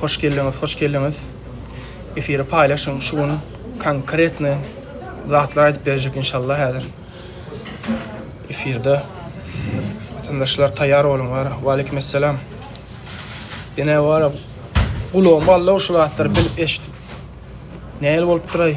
Hoş geldiňiz, hoş geldiňiz. Efiri paýlaşyň. Şu gün konkretny zatlar aýdyp berjek inşallah häzir. Efirde watandaşlar taýýar boluň bar. Wa aleykum assalam. Ine bar. Gulagym Allah şu zatlar bilip eşit. Näl bolup duray?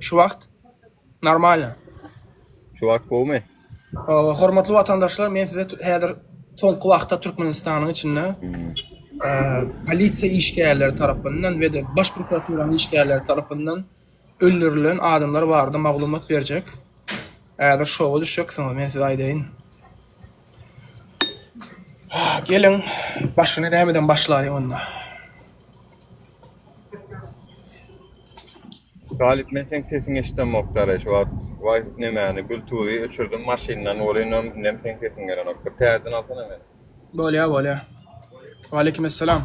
Şu wagt normalno. Şu wagt gowumy? Hormatly watandaşlar, men size häzir soňky wagtda Türkmenistanyň içinde polisiýa işgärleri tarapyndan we-de Baş prokuraturanyň işgärleri tarapyndan öldürilen adamlar barada maglumat berjek. Häzir şoga düşjeksiňiz, men size aýdaýyn. Geliň, başyny nämeden başlaýyn onda. Galyp men seň sesiň eşdemok daraý şu wagt waý nemäni bluetooth öçürdim maşyndan ol inem nem seň sesiň gelenok bir täzeden alsana men. Bolýa bolýa. Waleýkim essalam.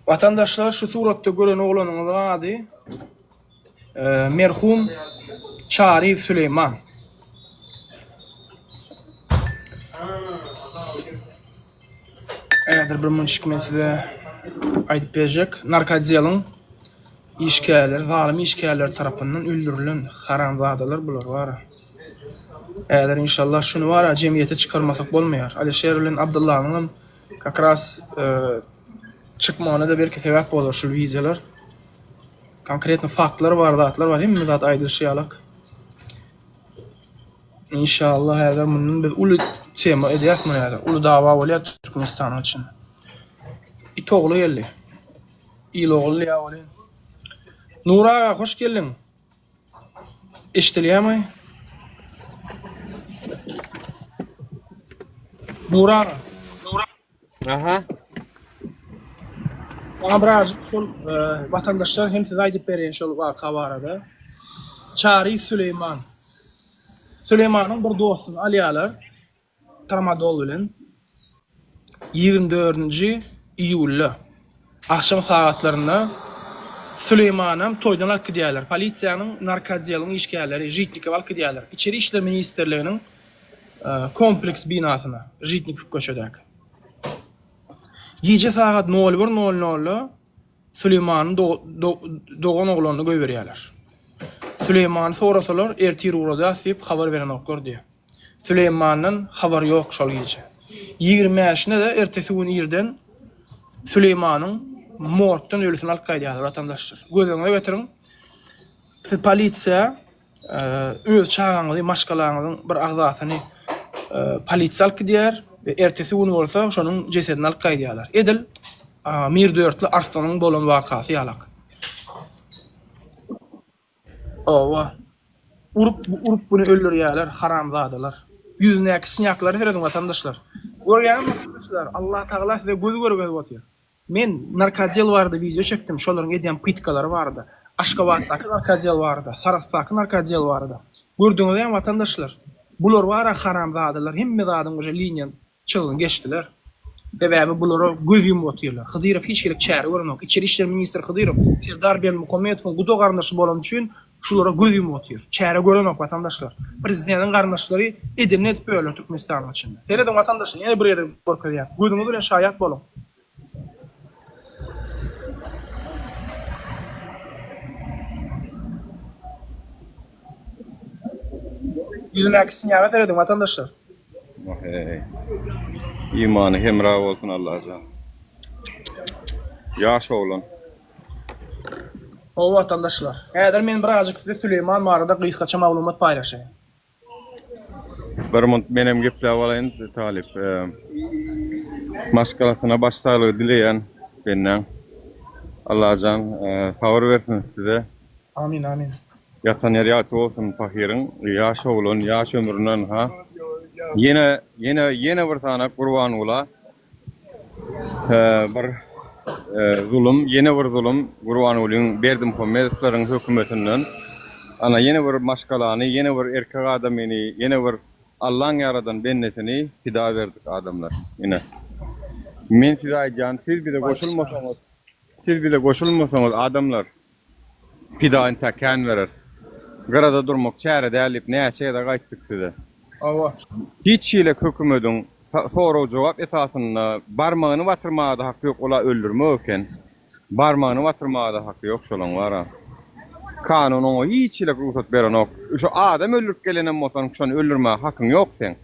Vatandaşlar şu suratda gören oglanyňyz ady e, merhum Çariýew Süleyman. Häzir bir münşik men size aýdyp berjek. Narkodiýalyň işgärleri, zalym işgärler tarapyndan öldürilen haramzadalar bular bar. Häzir inşallah şuny bar, jemgyýete çykarmasak bolmaýar. Alişer bilen Abdullanyň hem как раз e, çykmagyna da belki sebäp bolar şu wideolar. Konkretno faktlar bar, zatlar bar, hemme zat aýdylyşy ýalak. Inşallah häzir mundan biz uly tema edýäs muny häzir. Uly dawa bolýar Türkmenistan üçin. It ogly geldi. Il ogly ýa bolýar. Nur aga hoş geldiň. Eşdilýärmi? Nur aga. Aha. Maňa biraz şol e, watandaşlar hem size aýdyp bereýin şol waka barada. Çary Süleyman. Süleymanyň bir dostuny alýarlar. Tramadol bilen. 24-nji iýulda agşam sagatlarynda Süleymanam toýdan alyp gidýärler. Polisiýanyň narkodeluň işgärleri Žitnikow alyp gidýärler. Içeri işler ministrliginiň kompleks binasyna, Žitnikow köçedäki. Gije sagat nol bir nol nolda Süleýmanyň dogan oglanyny goýberýärler. Süleýmany sorasalar, ertir ugradýas diýip habar berenoklar diýýär. Süleýmandan habar ýok şol gije. Ýigrimi bäşine-de ertesi gün irden Süleýmanyň morgdan ölüsini alyp gaýdýarlar watandaşlar. Gözüňize getiriň, siz polisiýa, öz çagaňyzy, maşgalaňyzyň bir agzasyny polisiýa alyp gidýär we ertesi gün bolsa şonuň jesedini alyp gaýdýarlar. Edil Mirdörtli Arslanyň bolan wakasy ýalak. Oba, urup, urup güni öldürýärler, haramzadalar. Ýüzündäki sýnýaklary serediň watandaşlar. Görýäňizmi watandaşlar, Allatagala size göz görgezip otyr. Men narkodiel barada wideo çekdim, şolaryň edýän pytkalary barada, Aşgabatdaky narkodiel barada, Sarahsdaky narkodiel barada. Gördüňizem watandaşlar, bular bara haramzadalar hemme zadyň uje liniýa çyzgyny geçdiler. Sebäbi bulara göz ýumup otyrlar. Hydyrow hiç hili çäre görenok. Içeri işler ministri Hydyrow Serdar Berdimuhamedowyň guda-garyndaşy bolany üçin Şulara göz ýumup otyr. Çäre görenok watandaşlar. Prezideniň garyndaşlary edenini edip ýörler Türkmenistanyň içinde. Serediň watandaşlar ýene bir gezek görkezýän. Gözüňiz bilen şaýat boluň. Ýüzündäki synýaga serediň watandaşlar. Wahey. Imany hemra bolsun Allajan. Ýaş oglan. Gowy watandaşlar, häzir men birazjyk size Süleýman barada gysgaça maglumat paýlaşaýyn. Bir munt menem gepläp alaýyn talyp maşgalasyna baş saglygy dileýän bendäň. Allajan sabyr bersin size. Amin amin. Ýatan ýeri ýagty bolsun pahyryň ýaş oglan ýaş ömründen ha. Ýene ýene ýene bir sanaý Gurbangula. bir zulum, ýene bir zulum Gurbangulyň Berdimuhamedowlaryň hökümetinden. Ana, ýene bir maşgalany, ýene bir erkek adamyny, ýene bir Allaň ýaradan bendesini pida berdik adamlar. Ine, men size aýdýan, siz bize goşulmasaňyz, siz bize goşulmasaňyz adamlar, Pida inta kän bereris. Gyrada durmak çäre däl diýip näçe gezek aýtdyk size. Hawa. Hiç hili hökümediň sorag-jogap esasynda barmagyny batyrmaga-da haky ýok, ol-a öldürmek eken. Barmagyny batyrmaga-da haky ýok şolaň bar-a. Kanun oňa hiç hili rugsat berenok. Şu adam öldürip gelenem bolsaň, şony öldürmäge hakyň ýok seň.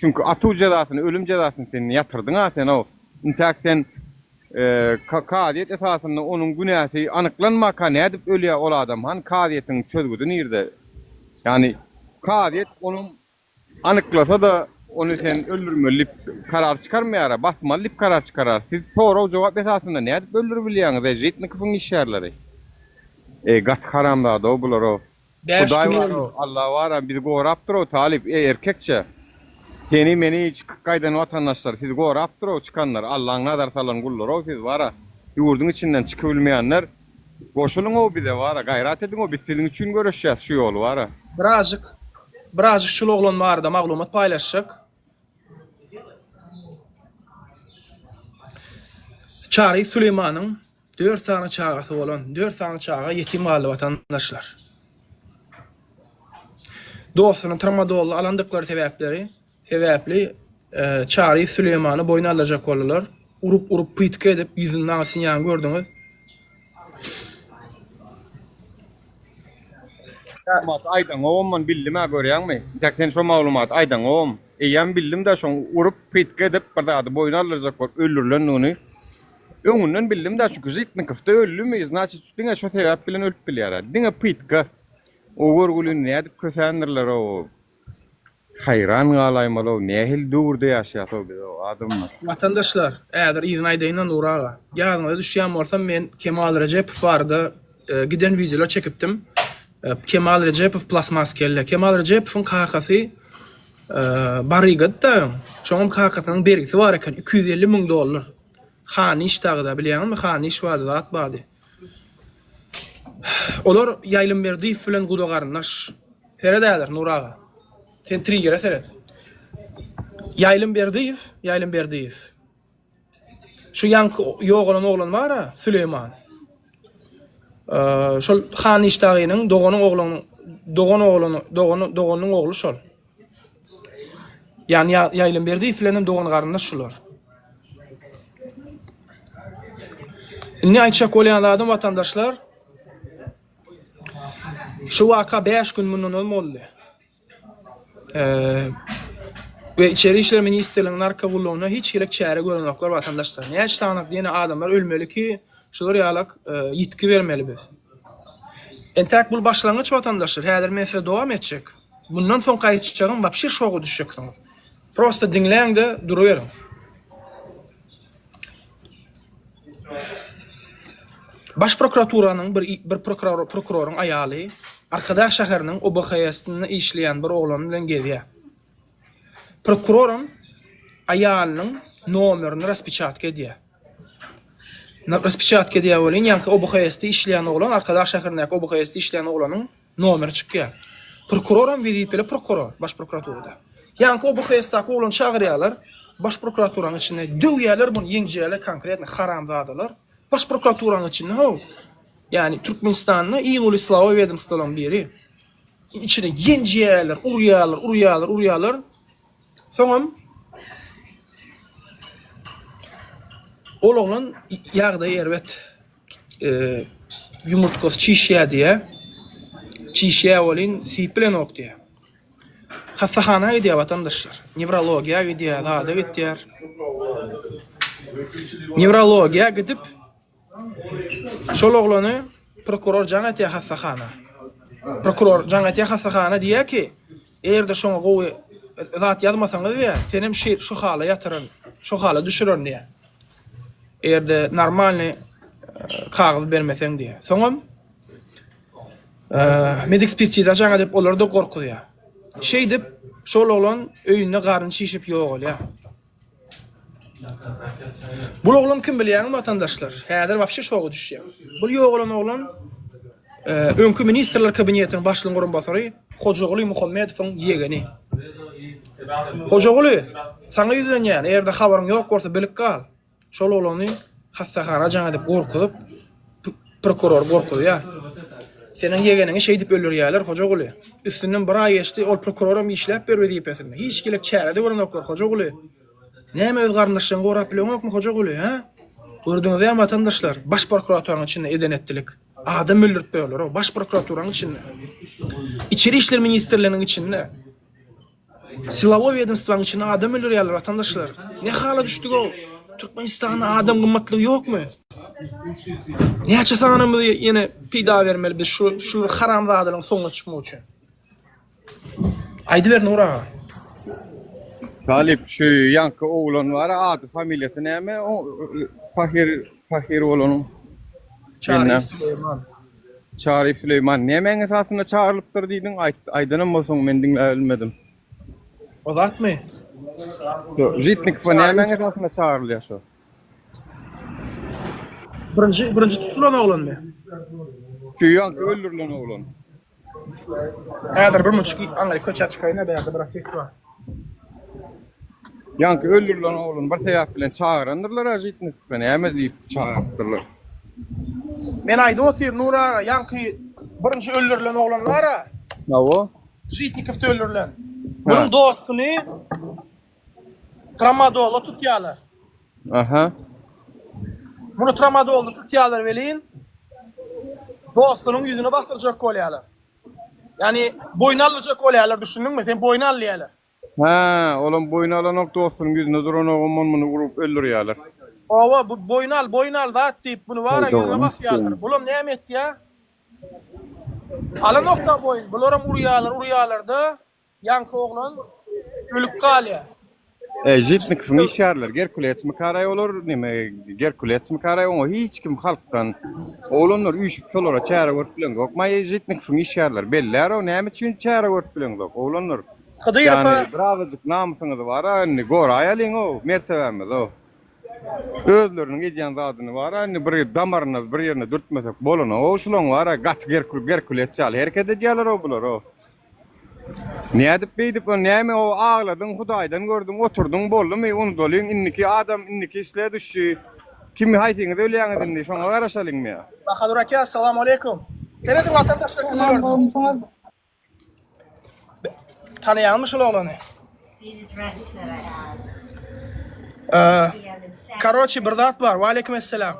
Çünki atuw jezasyny, ölüm jezasyny sen ýatyrdyň-a sen-ow. Intäk sen Ka kazyýet esasynda onuň günäsi anyklanmaka nädip ölýä ol adam han kazyýetiň çözgüdi nirde ýani kazyýet onuň anyklasa-da ony sen öldürmeli dip karar çykarmaýara basmaly dip karar çykarar siz sorag jogap esasynda nädip öldürip bilýäňiz e žitnikowyň işgärleri e gaty haramzada-ow bular-ow. Bäş Hudaý gün bar o, Alla bar a, bizi gorapdyr o, Talyp, eý, erkekçe! Seni, meni, çykyp gaýdan watandaşlar, sizi gorapdyr o, çykanlar, Allaň nazar salan gullary-ow siz, bar a, ýurduň içinden çykybilmeýänler, goşulyň-ow bize, bar a, gaýrat ediň-ow, biz siziň üçin göreşýäs şu ýoly, bar a. Birazjyk, birazjyk şul oglan barada maglumat paýlaşjak. Çary Süleýmanyň dört sany çagasy bolan, dört sany çaga ýetim galdy watandaşlar. Dostuny tramadolly alandyklary sebäpleri sebäpli e, Çary Süleýmany boýun aldyrjak boldular. Urup-urup pytky edip ýüzünden asynýan gördüňiz. Maglumaty aýdaňowam bildim-ä görýäňmi? Ýa sen şo maglumaty aýdaňowam? Eýýäm bildim-dä şoň urup, pytga edip, bir zady boýun aldyrjak bolup öldürilendigini. Öňünden bildim-dä çünki Žitnikow-da öldümi, znaçit diňe şo sebäp bilen ölüp bilýär-ä. Diňe pytga. O görgülini nädip kösendirler-ow. Haýran galaýmalow nähili döwürde ýaşaýasow biz ow adamlar. Watandaşlar, ädir yzyny aýdaýynda Nury aga. Ýadyňyza düşýän bolsa men Kemal Rejepow barada giden wideolar çekipdim. Kemal Rejepow plasmas kelle. Kemal Rejepowyň kakasy Barygady daýaň. Şoňam kakasynyň bergisi bar eken, iki ýüz elli müň dollar. Hanyş dagyda, bilýäňizmi Hanyş bardy, zat bardy. Olar Ýaýlym Berdiýew bilen guda garyndaş. Seret häzir, Nury aga. Sen trigere seret. Ýaýlym Berdiýew, Ýaýlym Berdiýew. Şu ýaňky ýogalan oglan bar-a, Süleýman. Şol Han Işdagynyň doganyň oglunyň, dogan oglany, dogany, doganynyň ogly şol. Ýany Ýaýlymberdi islenen dogan-garyndaş şular. Indi aýtjak bolýan zadym watandaşlar, şu waka bäş gün mundan öň boldy. we Içeri işler ministrliginiň narkogullugyna hiç hili çäre görenoklar watandaşlar. Näçe sanyk diýne adamlar ölmeli ki, şular ýalak ýitgi bermeli biz. Entäk bul başlangyç watandaşlar, häzir men size dowam etjek. Mundan soňky aýtjagyň wapşe şoga düşjeksiňiz. Prosta diňläňde duruberiň. Baş prokuraturanyň bir bir prokuror prokuroryň aýaly Arkadag şäheriniň OBHS-nda işleýän bir oglan bilen gezýär. Prokuroram aýalynyň nomerini raspiçatka edýär. Raspiçatka edýär welin, ýaňky OBHS-de işleýän oglan, Arkadag şäherindäki OBHS-de işleýän oglanyň Nomer çykýar. Prokuroram wezipeli prokuror baş prokuraturada. Ýaňky bu hesdaky oglany çagyrýarlar baş prokuraturanyň içine döwýärler muny ýeňjirýärler konkretno haramzadalar baş prokuraturanyň içinde how ýani Türkmenistanda iň uly silaoý wedomstwolaryň biri içine ýenjýärler urýarlar urýarlar urýarlar soňam ol oglan ýagdaýy erbet. Ýumurtgasy çişýär diýýär. Çişýär welin, syp bilenok diýýär. Hassahana gidýär watandaşlar. Newrologiýa gidýär, zada gidýär. Newrologiýa gidip, şol oglany prokuror jaň etýär hassahana. Prokuror jaň etýär hassahana diýýär ki, eger-de şoňa gowy zat ýazmasaňyz diýýär, senem şu hala ýatyran, şu hala düşüren diýýär. Eger-de normalny kagyz bermeseň diýýär. Soňam medekspertiza çagyr diýip olary-da gorkuzýar. Şeýdip, şol oglan öýünde garny şişip ýogalýar. Bu oglan kim bilýäňmi watandaşlar? Häzir wapşe şoga düşýär. Bu ýogalan oglan Öňki Ministrler Kabinetiniň başlygynyň orunbasary Hojaguly Muhammedowyň ýegeni. Hojaguly, saňa ýüzlenýän, eger-de habaryň ýok bolsa, bilip gal. Şol oglany hassahana jaň edip gorkuzyp, prokurory gorkuzýar. Seniň ýegeniňi şeýdip öldürýärler, Hojaguly. Üstünden bir aý geçdi, ol prokuror hem işläp ýör wezipesinde. Hiç gilik çäre-de görenoklar, Hojaguly. Näme öz garyndaşlaryňy gorap bileňokmy, Hojaguly, hä? Gördüňizem, watandaşlar, baş prokuraturyň içinde eden-etdilik. Adam öldürip goýarlar o baş prokuraturanyň içinde. İçeri işler ministrliginiň içinde. Silawoý wedenstwaň içinde adam öldürýärler watandaşlar. Ne hala düşdük o? Türkmenistanda adam gymmatlygy ýokmy? Näçe sanymyzy ýene peýda bermeli biz şu şu haramzadalaryň soňuna çykmak üçin? Aýdyber Nur aga. Talip şu ýanky oglan bar, ady familiýasy näme? O Pahir Pahir bolanyň. Çary Süleyman. Çary Süleyman nämäň esasynda çagyrylypdyr diýdiň? Aýdanam bolsaň men diňläp bilmedim. O zatmy? Jitnik bu nämäň esasynda çagyrylýar şu? Birinji birinji tutulan oglanmy? Şu ýanky öldürilen oglan. Häzir bir muçik iýip aňry köçä çykaýyn-a bärde biraz ses bar. Ýaňky öldürilen oglan bir sebäp bilen çagyrandyrlar-a Žitnikowy näme diýip çagyrypdyrlar. Men aýdyp otyryn Nury aga ýaňky birinji öldürilen oglan bar-a. Hawa. Žitnikowda öldürilen. Munuň dostuny Tramadolu tutýarlar. Aha. Muny tramadolda tutýarlar welin dostunyň ýüzüne basdyrjak bolýarlar. Ýani boýun aldyjak bolýarlar, düşündiňmi? Sen boýun al diýýärler. Ha, olam boýun alanok dostunyň ýüzüne duranok, ondan muny urup öldürýärler. Owa, bu boýun al, boýun al zat diýip, muny wara ýüzüne basýarlar. Bulam näme etýär? Alanok da boýun, bularam urýarlar, urýarlar-da, Ýaňky oglan ölüp galýar. E, Žitnikowyň işgärleri Gerkulesmi karaý olar, neme, Gerkulesmi karaý, oňa hiç kim halkdan, oglanlar üýşüp şolara çäre görüp bileňzok, maý, Žitnikowyň işgärleri bellär-ow, näme üçin çäre görüp bileňzok, oglanlar, Hydyrowa. ýagny, birazajyk namysyňyz bar-a, indi, goraýalyň-ow, mertebämiz-ow, özleriniň edýän zadyny bar-a, indi, bir damaryna, bir ýerine dürtmesek bolana-ow, şulaň bar-a, gaty Gerkules ýaly hereket edýäler-ow, bular-ow. Nädip beýdip ol näme o agladyň hudaýdan gördüň oturdyň boldumy unudalyň indiki adam indiki islä düşdi kim haýsyňyz ölýäňiz indi şoňa garaşalyňmy. Bahadur aka assalamu aleykum. Serediň watandaşlar kimler Salam gördüň. bolmuşyňyz. Tanaýaňmy şol oglany? Eee, Karoçi bir zat bar. Waleýkim esselam.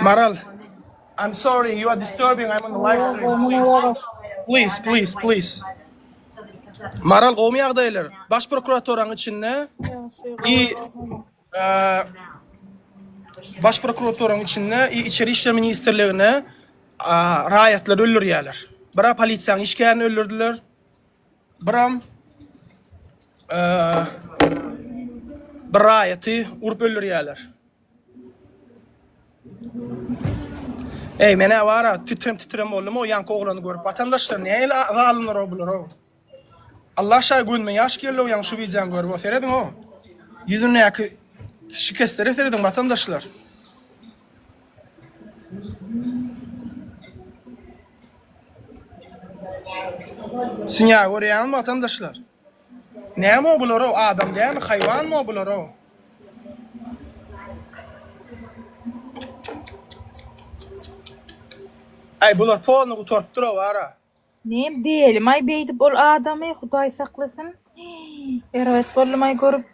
Maral, I'm sorry, you are disturbing, I'm on the live stream, please. Please, please, please. Maral gowmy ýagdaýlar? Baş prokuratoryň içinde i Baş prokuratoryň içinde i içeri işler ministrligine raýatlar öldürýärler. Bira polisiýanyň işgärini öldürdiler. Biram bir raýaty urup öldürýärler. Eý, men awara titrem titrem boldum o ýanky oglany görüp. Watandaşlar näme ile zalymlar o bular o. Allah şaý gözüme ýaş geldi o ýaňky şu wideony görüp o serediň o. Ýüzündäki şikesleri serediň watandaşlar. Synýa görýäňizmi watandaşlar? Näme bular-ow, adam dälmi, haýwanmy bular-ow? Aý, bular polny gutarypdyr-ow, ara. Ne delimi beydip ol adamy huday saklasyn erbet boldumay görüp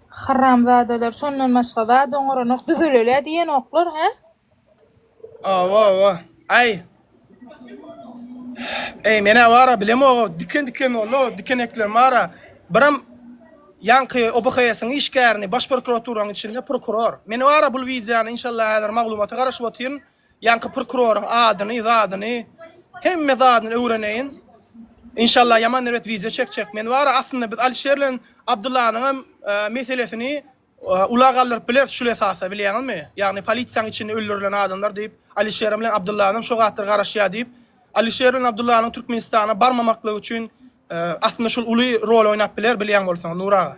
haramzadalar şondan başga zat oňaranok düzelelä diýenoklar he. Awa awa. Ay. Ey mena bara bilem o diken diken ollo dikenekler bara. Biram Yanki OBHS-iň işgärini baş prokuraturaň içinde prokuror. Meni bara bul wideony inşallah häzir maglumata garaşyp otyryn. Ýaňky prokuroryň adyny, zadyny, hemme zadyny öwreneýin. Inşallah ýaman erbet wideo çekjek. Men wara aslynda biz Alişer bilen Abdullanyň hem meselesini ula galdyryp bileris şul esasda bilýäňizmi? Ýagny polisiýanyň içinde öldürilen adamlar diýip, Alişer bilen Abdullanyň hem şo zatlar garaşýar diýip, Alişer bilen Abdullanyň Türkmenistana barmamaklygy üçin aslynda şul uly rol oýnap biler bilýän bolsaň Nur aga.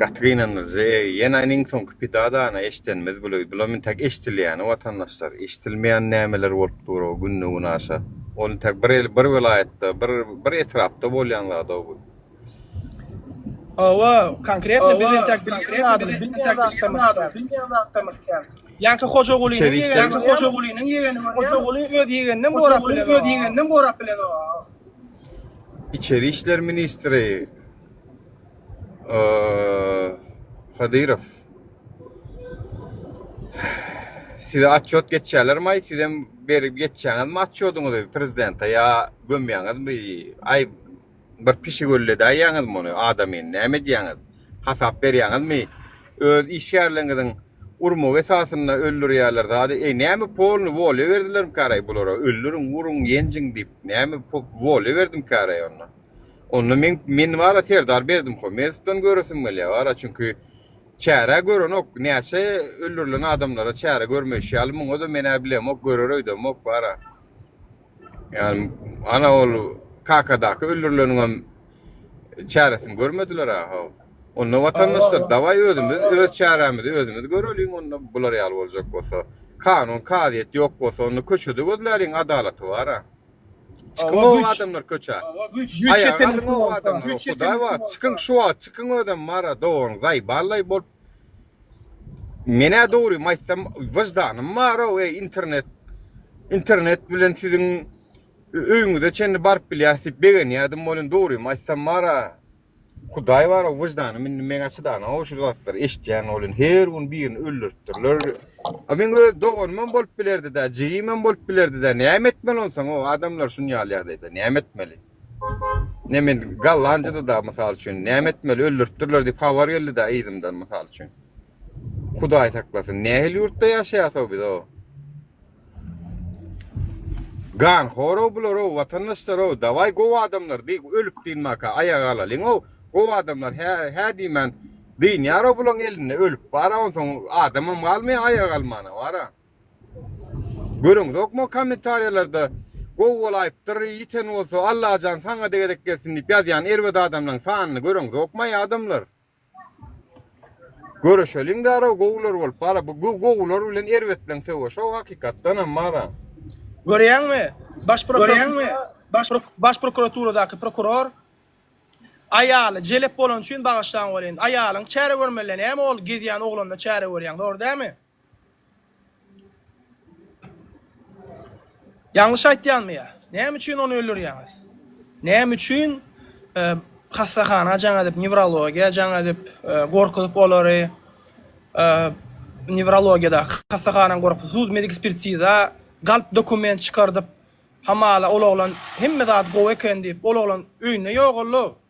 Gaty gynandyryjy ýene ine iň soňky pida dana eşdenimiz bula bular intäk eşdilýäni watandaşlar eşdilmeýän nämeler bolup dur o günde gün aşa ol intäk bir el bir welaýatda bir bir etrapda bolýan zada bu. Hawa konkretno biz intäk bilýän zadyny bilmeýän zatda bilmeýän zatda mykýan. Ýaňky Hojagulynyň ýegeni Hojagulynyň ýegeni Hojaguly öz ýegeninden gorap bilen öz ýegeninden gorap bilen o. Içeri işler ministri Hydyrow size atçot geçýärlermaý, sizem berip geçýäňizmi atçodyňyzy prezidente ýa gömýäňizmi, aý bir pişik ölledäýýäňizmi ony adamyny näme edýäňiz, hasap berýäňizmi öz işgärleriňiziň urmak esasynda öldürýärler zady eý näme polny wolýa berdilermikaraý bulara öldüriň uruň ýenjiň diýip näme wolýa berdimikaraý onda onda men men wara Serdar Berdimhomedowdan göresim gelýär wara çünki çärä görenok näçe öldürilen adamlara çäre görmeýşi ýaly muňada menä bilemok görer öýdemok wara. Ýagny ana ol Kakadaky öldürileniň hem çäresini görmediler a how. Onda watandaşlar dawaý özümiz öz çäremizi özümiz göreliň onda bular ýaly boljak bolsa. Kanun kazyýet ýok bolsa onda köçede gözläliň adalaty bar a. Çykyň o adamlar köçä. Aýaga galyň o adamlar. Hudaý bar çykyň şu wagt çykyň özem bar a dogan zaý ballay bolup Menä dogrymy aýtsam wyždanym barow eý internet internet bilen siziň öýüňize çenli baryp bilýäs diýip begenýädim welin dogrymy aýtsam bara hudaý barow wyždanym indi meňä çydanow şu zatlary eşitýän welin her gün birini öldüripdirler a meň öz doganymam bolup bilerdida jigimem bolup bilerdida näme etmeli onsoň o adamlar şuny ýaly ýagdaýda näme etmeli. Ne men Gollandiýada da mysal üçin näme etmeli öldüripdirler diýip habar geldi da yzymdan mysal üçin. Hudaý saklasyn. Nähili ýurtda ýaşaýasow biz o? Gan horow bular o watandaşlar o daway gowy adamlar diý ölüp diýin maka aýaga alalyň o gowy adamlar hä hä diýmän diýinýär o bulaň elinde ölüp bara onsoň adamam galmaýa aýaga almana bara. Görüňzokmy kommentariýalarda gowy bolaýypdyr ýiten bolsa Allajan saňada gezek gelsin diýip ýazýan erbet adamlaň sanyny görüňzokmaý adamlar. Göreşeliň darag gowular bolup bar bu gowular bilen erbetleň söweşo hakykatdanam bara. Görýäňmi baş prokuratura baş prokuraturadaky prokuror aýaly jelep bolany üçin bagyşlaň welin aýalyň çäre görmeli näme ol gezýän oglanyna çäre görýäň dogry dämi. Ýalňyş aýtýanmy ýa? Näme üçin ony öldürýäňiz? Näme üçin e, hassahana jaň edip, newrologiýa jaň edip, e, gorkuzyp olary e, newrologiýada hassahanany gorkup, sud medik spirtiza galp dokument çykardyp, hamala ol oglan hemme zat gowy eken diýip, ol oglan öýünde ýogaldy.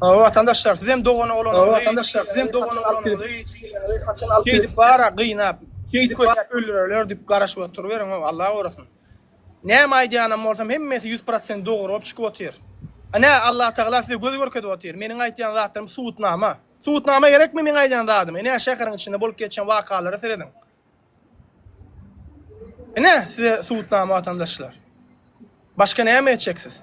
Salam watandaşlar sizem dogan oglanyňyzy watandaşlar sizem dogan oglanyňyzy haçan alyp gelip bara gynap şeýdip kötep öldürerler dip garaşyp oturyberiň Allah gorasyn näme aýdýanam bolsam hemmesi ýüz prosent dogry bolup çykyp otyr Ine Allah tagala size göz görkezip otyr meniň aýtýan zatlarym subutnama subutnama gerekmi meniň aýdýan zadyma ine şäheriň içinde bolup geçen wakalara serediň Ine size subutnama watandaşlar başga näme etjek siz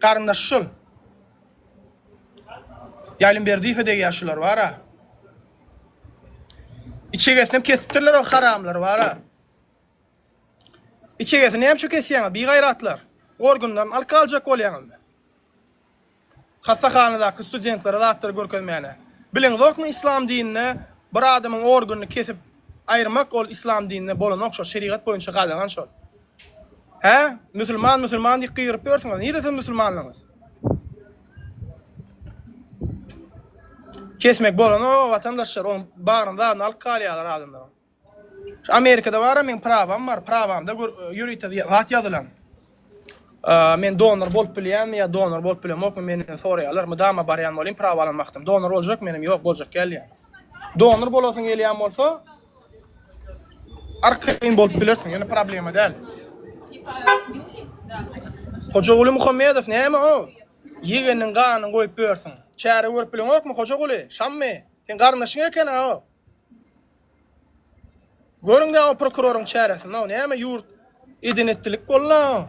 Garyndaş şul. Ýaýlym Berdiýewe degýär şular bara. Içegesinem kesipdirler o haramlar bara. Içegesini näme üçin kesýäňiz? Bigaýratlar. Organlaryny alyp galjak bolýaňyzmy? Hassahanadaky studentlere zatlary görkezmäne. Biliň zokmy islam dininde bir adamyň organyny kesip aýyrmak ol islam dininde bolan okşa şerigat boýunça gadagan şol. Hä? Musulman musulman diýip gygyryp ýörsüňiz. Nirde siziň musulmanlygyňyz? Kesmek bolana o watandaşlar on baryny zadyny alyp galýarlar adamlar. Şu Amerikada bar men prawam bar. Prawamda ýörite zat ýazylan. Men donor bolup bilýänmi ýa donor bolup bilemokmy menden soraýarlar. Mydama barýan bolýan prawa alan wagtym. Donor boljak menem ýok boljak gelýän. Donor bolasyň gelýän bolsa Arkaýyn bolup bilersiň, ýöne problema däl. Hojaguly Muhammedow näme o? Ýegeniň ganyny goýup bilersiň. Çäre görüp bileňokmy, Hojaguly? Şammy? Seň garyndaşyň eken-ä o. Görüň-dä o prokuroryň çäresini-ow, näme ýurt eden-etdilik boldy-a o.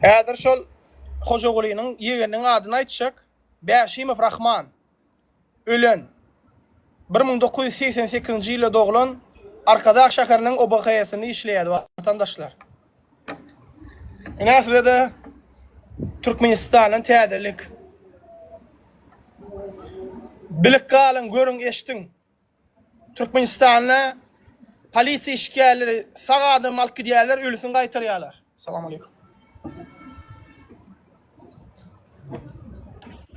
Häzir şol Hojagulynyň ýegeniniň adyny aýtjak, Bäşimow Rahman. Ölen. Bir müň dokuz ýüz segsen sekizinji ýylda doglan, Arkadag şäheriniň OBHS-inde işleýärdi, watandaşlar. Ine, size-de Türkmenistandan täzelik. Bilip galyň, görüň, eşdiň! Türkmenistanda polisiýa işgärleri sag adamy alyp gidýärler, ölüsini gaýtarýarlar. Salam aleykum.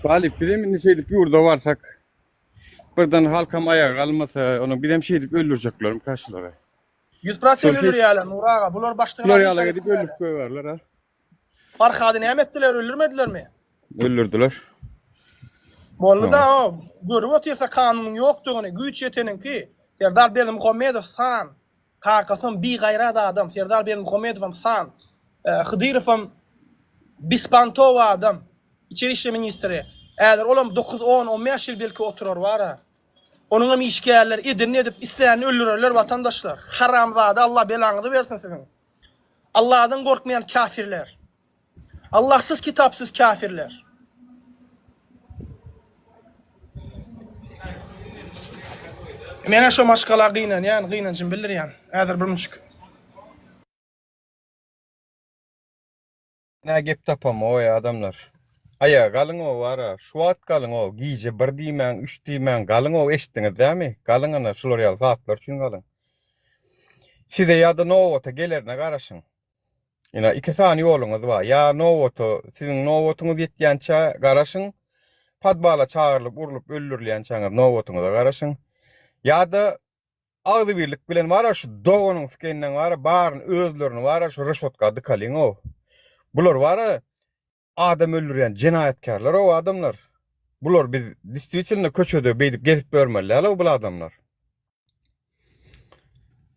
Galip biz hem indi şeýdip ýurda barsak birden halkam aýaga galmasa, ony biz hem şeýdip öldürjeklerim kaşlary. 100% öldürýärler Nur aga. Bular başdan Bular ýala edip öldürip goýarlar ha. Farhady näme etdiler, öldürmedilermi? Öldürdiler. Boldy-da o, görüp otyrsa kanunyň ýokdugyny, güýç ýeteniňki, Serdar Berdimuhamedow san, kakasam bigaýrat adam, Serdar Berdimuhamedowam san, Hydyrowam bispantow adam, içeri işler ministri, häzir olam dokuz, on, on bäş ýyl belki oturar bar-a. Onuňam işgärleri edenini edip, islänini öldürerler watandaşlar. Haramzada, Allah belaňyzy bersin siziň. Allahdan gorkmaýan kafirler. Allahsyz kitapsyz kafirler. Menä şo maşgala gynanýan, gynanjym bildirýän. Häzir bir müşk. Nä gep tapamgoý adamlar. Aýaga galyňow wara, şu wagt galyňow, gije bir diýmäň, üç diýmäň, galyňow eşitdiňiz dämi? Galyň ana şular ýaly zatlar üçin galyň. Size ýa-da nobata gelerine garaşyň. Ina iki sany ýoluňyz bar. Ýa nobata siziň nobatyňyz ýetýänçä garaşyň. Podwala çagyrylyp urlup öldürilýänçäňiz nobatyňyza garaşyň. Ýa-da agzybirlik bilen bara şu doganyň sükeninden bara baryny özlerini bara şu reşotka dykalyň ow. Bular bara adam öldürýän jenaýatkärler ow adamlar. Bular biz diswitelno köçede beýdip gezip ýörmeli däl ow bul adamlar.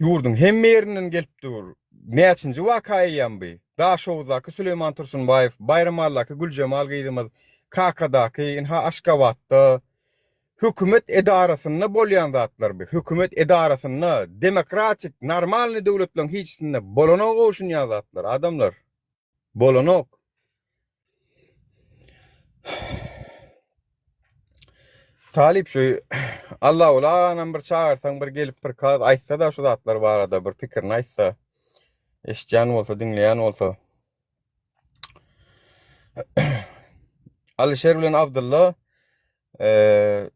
Ýurduň hemme ýerinden gelip dur. Näçinji waka eýýäm bi? Daşoguzdaky Süleýman Tursunbaýew, Baýramalydaky Güljemal gyzymyz, Kakadaky, ynha Aşgabatda, Hökümet edarasynda bolýan zatlar bu. Hökümet edarasynda, demokratik, normalnyý döwletleriň hiçsinde bolana goşunýan zatlar, adamlar. Bolanok. Talyp şu Allaguly aganam bir çagyrsaň bir gelip bir kaz aýtsada şu zatlar barada bir pikirini aýtsa. Eşitýän bolsa, diňleýän bolsa. Alyşer bilen Abdylla Eee,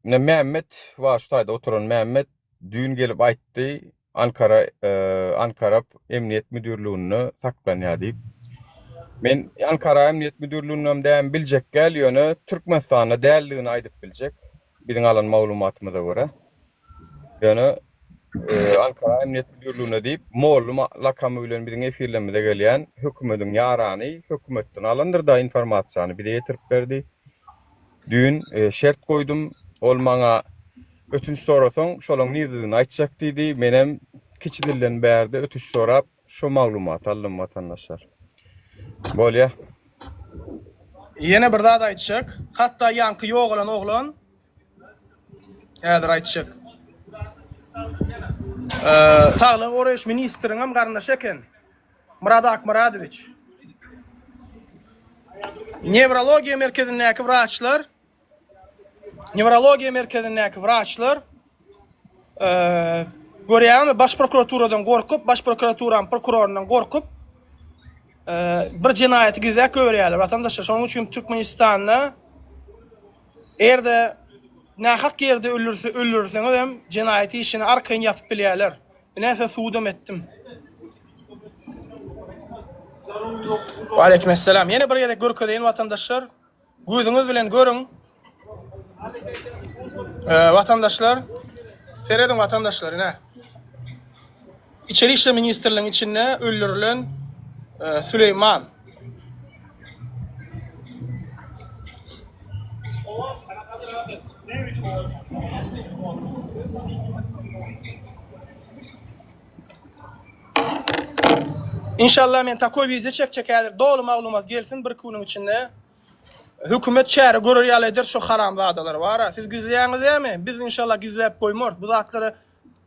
ine Mämmet, wa şu taýda oturan Mämmet düýn gelip aýtdy, Ankara, eee, Ankarap emniýet müdirliginde saklanýar diýip. Men Ankara emniýet müdirligindem däm biljek däl, ýöne Türkmenistanda däldigini aýdyp biljek, biziň alan maglumatymyza görä. Ýöne Ankara Emniyet Müdirligine diýip Mollum lakamy bilen biziň efirlerimize gelýän hökümediň ýarany hökümetden alandyr da informasiýany bize ýetirip berdi. Düýn şert goýdum, ol maňa ötünç sorasaň şolaň nirdedigini aýtjak diýdi, menem kiçi dilden bärde ötüş sorap Şu maglumaty aldym watandaşlar. Bolýa. Ýene bir zat aýtjak. Hatda ýaňky ýogalan oglan häzir aýtjak. Saglygy goraýyş ministriniňem garyndaşy eken. Myrat Akmyradowiç. Newrologiýa merkezindäki wraçlar Newrologiýa merkezindäki wraçlar görýäňizmi, baş prokuraturadan gorkup, baş prokuraturam prokurorundan gorkup bir jenaýaty gizläp goýberýärler. Watandaşlar, şonuň üçin Türkmenistanda erde nähak ýerde öldürse öldürseňiz hem jenaýat işini arkaýyn ýapyp bilýärler. Näse sudam etdim. Wa aleýkum esselam. Ýene bir gezek görkezeýin watandaşlar. Gözüňiz bilen görüň. Ee, vatandaşlar, seredin vatandaşlar, ne? İçeri işler ministrliğinin içinde öldürülen e, Süleyman. Inşallah men takoý wideo çekjek häzir doly maglumat gelsin bir iki günüň içinde. Hökümet çäre görer ýaly eder şu haramzadalar bara. Siz gizleýäňiz dämi? Biz inşallah gizläp goýmarys. Bu zatlary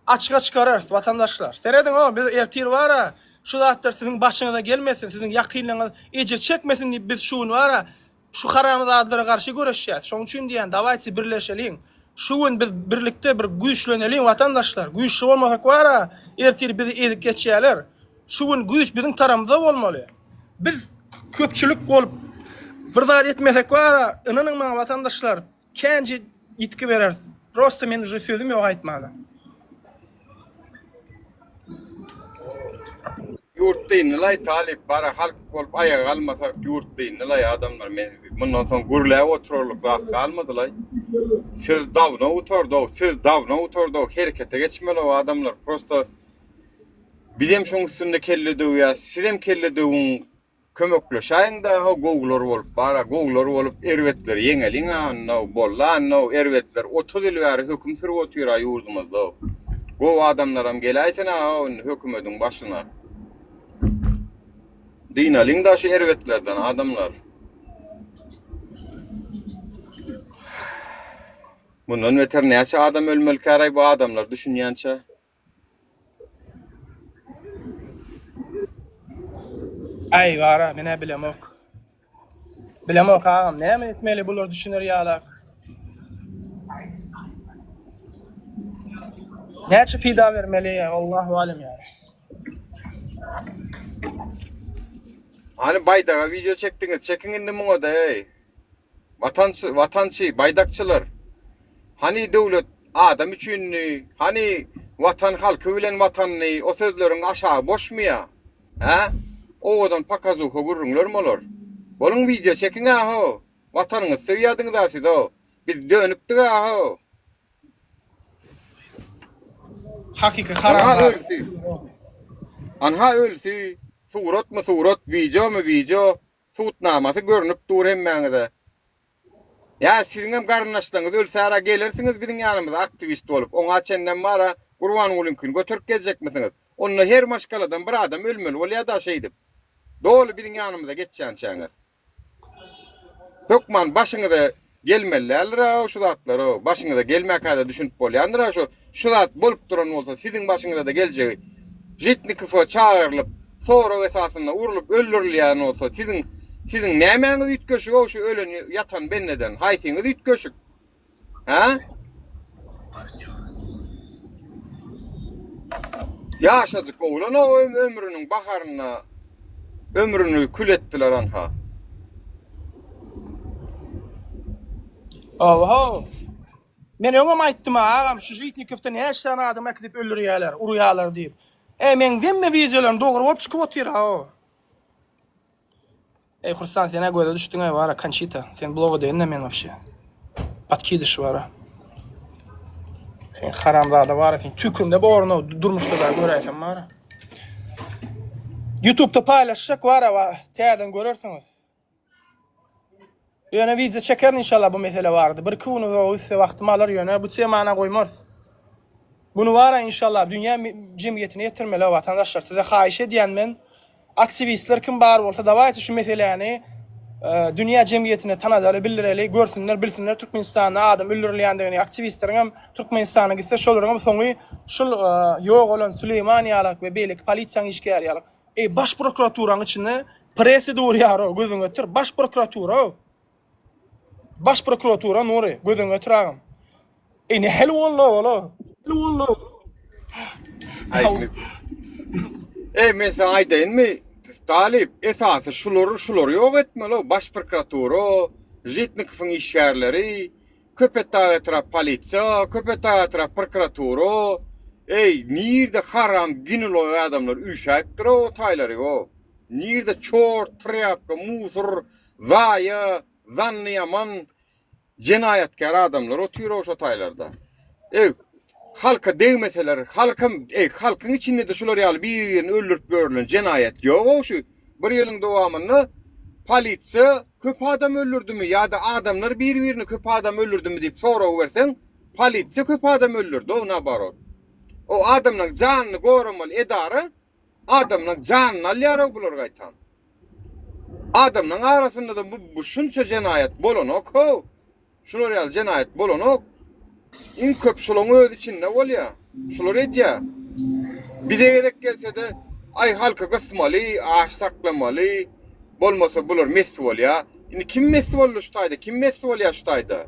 açyga çykararys watandaşlar. Serediň o biz ertir bara şu zatlar siziň başyňyza gelmesin, siziň ýakynlaryňyz ejir çekmesin diýip biz şu gün bara Şu haramzadlara garşy göreşýäs. Şoň üçin diýýän, dawaýçy birleşeliň. Şu gün biz birlikde bir güýçleneliň watandaşlar. Güýçli bolmasak wara, ertir bizi ezip geçýärler. Şu gün güýç biziň taramyzda bolmaly. Biz köpçülik bolup bir zat etmesek wara, ynanyň maňa watandaşlar, Känje ýitgi bereris. Prosta men uje sözüm ýok aýtmana. Ýurt dyndylaý talyp bara halk bolup aýaga galmasak ýurt dyndylaý adamlar men mundan soň gürläp oturarlyk zat galmadylaý söz dawno gutardow söz dawno gutardow herekete geçmeliw adamlar prosta bizem şoň üstünde kelle döwýäs sizem kelle döwüň Kömekleşäýiň daga gowular bolup bara gowular bolup erbetleri ýeňeliň a anna boldy anna erbetler otuz ýyl bäri höküm sürüp otyra ýurdumyzda gowy adamlaram geläýsin a indi hökümediň başyna dynalyň da şu erbetlerden adamlar mundan beter näçe adam ölmeli käraý bu adamlar düşünýänçe Aý bara menä bilemok. Bilemok agam näme etmeli bular düşüner ýalak. Näçe pida bermeli ýa Allahu alem ýa. Hani baýdaga video çekdiňiz, çekiň indi muňa da ey. Watançy, watançy, baýdakçylar! Hany döwlet adam üçindi, hany Watan halky bilen Watandy, o sözleriň aşagy boşmy ýa? Hä? Owadan pokazuha gürrüňlermi olar? Boluň wideo çekiň-ä ho! Watanyňyzy söýýädiňiz-ä siz ho! Biz dönükdik-ä ho! Hakyky haramzada. Anha ölüsi. Suratmy surat, wideomy wideo, Subutnamasy görnüp dur hemmäňize. Ýa siziňem garyndaşlaryňyz ölsärä gelersiňiz biziň ýanymyza aktiwist bolup, oňa çenlem bara Gurbangulyňkyny göterip geljekmisiňiz? Onda her maşgaladan bir adam ölmeli bolýada şeýdip. Doly biziň ýanymyza geçýänçäňiz. Hökman başyňyza Gelmelidäldir-ow şu zatlar-ow. Başyňyza gelmäkä-de düşünip bolýandyr-a şu. Şu zat bolup duran bolsa, siziň başyňyza-da geljegi. Žitnikowa çagyrylyp, sorag esasynda urlup öldürilýän bolsa, siziň siziň nämäňiz üýtgeşik-ow şu ölen, ýatan bendeden? Haýsyňyz üýtgeşik? Hä? Ýaşajyk oglan-ow ömrüniň baharynda ömrüni kül etdiler anha. Oho. Men öňem aýtdym agam, şu Jitnikowdan her sany adam äkidip öldürýärler, urýarlar diýip. Eý, men hemme wideolaryň dogry bolup çykyp otyr ha o. Eý, Hursan, sen a göze düşdüň eý, bara Konçita. Sen bloga deýin-de men wapşe. Patkidiş bara. Sen haramzada bara, sen tükünde borno durmuşda da göräýsen bara. YouTube-da paýlaşsak bara, täzeden görersiňiz. Ýöne wideo çekerin inşallah bu mesele barada. Bir iki gün uzagy üstse wagtymy alar ýöne bu temana goýmarys. Bunu bara inşallah dünýä jemgyýetine ýetirmeli watandaşlar. Size haýyş edýän men aktiwistler kim bar bolsa dawaýte şu meseläni dünýä jemgyýetine tanadaly bildireli görsünler bilsinler Türkmenistanda adam öldürilýändigini aktiwistleriň hem Türkmenistana gitse şolaryň hem soňy şul ýogalan Süleýman ýalak we beýleki polisiýaň işgäri ýalak Eý baş prokuraturaň içinde presi durýaro gözüň ötür baş prokuratura baş prokuratura nury gözüň ötür agam Eý ne hel boldy ola hel boldy Eý men sen aýdaýyn mi Talip esasy şulary şulary ýok etmeli baş prokuratura Žitnikowyň işgärleri Köpetdag etrap polisiýa, Köpetdag etrap prokuratura, eý, nirde haram ginulog adamlar üýşäýipdir o taýlary o? Nirde çort, trýapka, musur, zaýa, zanny ýaman, jenaýatkär adamlar otyr o şo taýlarda? Eý, halka degmeseler, halkam, eý, halkyň içinde-de şular ýaly bir-birini öldürip ýörlen jenaýat ýog-ow şu. Bir ýylyň dowamynda polisiýa köp adam öldürdimi ýa-da adamlar bir-birini köp adam öldürdimi diýip sorag berseň, polisiýa köp adam öldürdi-ow naborot. O adamlaryň janyny goramaly edara adamlaryň janyny alýar-ow bular gaýtam. Adamlaryň arasynda-da bu şunça jenaýat bolanok-how. Şular ýaly jenaýat bolanok. Iň köp şulaň özi içinde bolýa. Şular edýä. Bize gerek gelsede aý halky gysmaly, aç saklamaly. Bolmasa bular mest bolýa. Indi kim mest boldy şu taýda, kim mest bolýa şu taýda.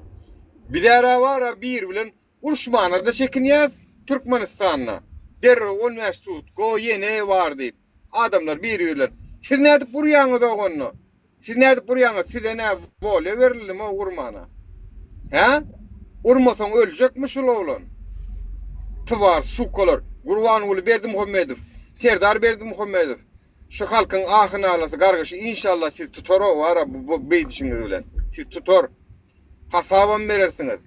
Bizara bara bir bilen Uruşmana-da çekinýäs, Türkmenistanda derrew on bäş sud, go, ýene bar diýip, adamlar bir-birlerini, Siz nädip urýaňyz-ow onda? Siz nädip urýaňyz? Size nä wolýa berildimi-ow urmana? Hä? Urmasaň öljekmi şul oglan? Twar, sukalar! Gurbanguly Berdimuhamedow, Serdar Berdimuhamedow, şu halkyň ahy-nalasy, gargyşy inşallah siz tutar-ow ara bu beýdişiňiz bilen. Siz tutar. Hasabam berersiňiz.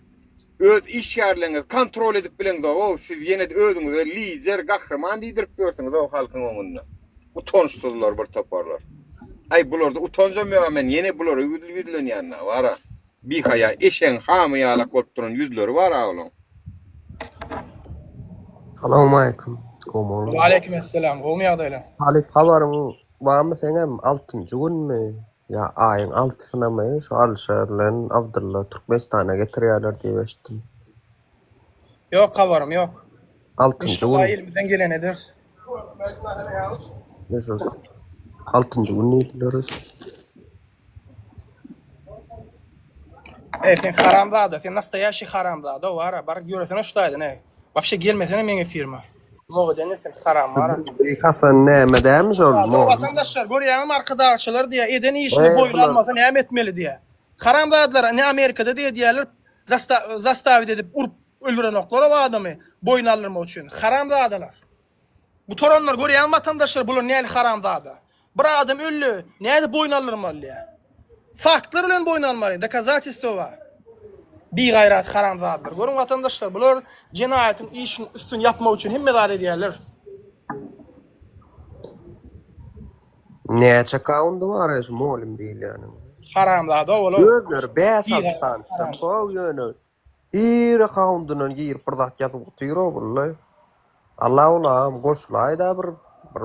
öz işgärleriňizi kontrol edip bileňzogow siz ýenede özüňize lider gahryman diýdirip ýörsüňizow halkyň öňünde utançsyzlar bir toparlar aý bularda utanjam ýoga men ýene bulara ýüzlenýänna bara bihaýa eşegiň hamy ýalak bolup duran ýüzleri bara olaň. Salowmaleýkim. Gowmyň? Waleýkim esselam. Gowmy ýagdaýlaň? Talyp habaryň barmy seňem altynjy günmi? Ýa aýyň altysynamy şu Alşer bilen Abdylla Türkmenistana getirýärler diýip eşitdim. Ýok habarym ýok. Altynjy Inşallah gün. elimizden geleni ederis. Ne şu altynjy gün diýdiler öz. Ey sen haramzada, sen nastoýaşi haramzada, wara baryp ýöresene şu daýdan ey. Wapşe gelmesene meň efirime. Mogu dene sen haram ara. Büyük Hasan näme dämiş ol Şu mol. vatandaşlar görýäňizmi arkadagçylar diýýär, eden işini Eý, boýun bular- almasa näme etmeli diýýär. Haramzadalar ne Amerikada diýýär diýýärler zasta- zastawit edip urup öldürenoklar o adamy boýun aldyrmak üçin. Haramzadalar. Gutaranlar görýäňizmi watandaşlar bular näli haramzada. Bir adam öldi, nädip boýun aldyrmaly? Faktlar bilen boýun almaly, dokazatestwowa. Bigaýrat haramzadalar. Görüň watandaşlar, bular jenaýatyň işini üstün ýapmak üçin hemme zat edýärler. Näçe kaundy bar şu molym diýilýäniň? Haramzada ola. Özleri 5-6 sany çykyp gow ýöne Ir akkaundyndan girip bir zat ýazyp otyr ogullay. Alla ulagam goşulaýda bir bir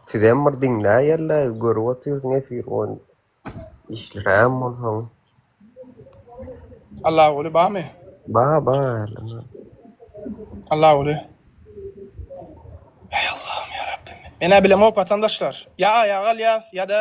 sizem bir diňläýerle görüp otyrsyň efir on işliräm bolsaň. Allaguly bamy? Ba ba ýerleme. Allaguly. Eý Allahym ýa Rabbim. Menä bilemok watandaşlar. Ýa aýa galýas ýa-da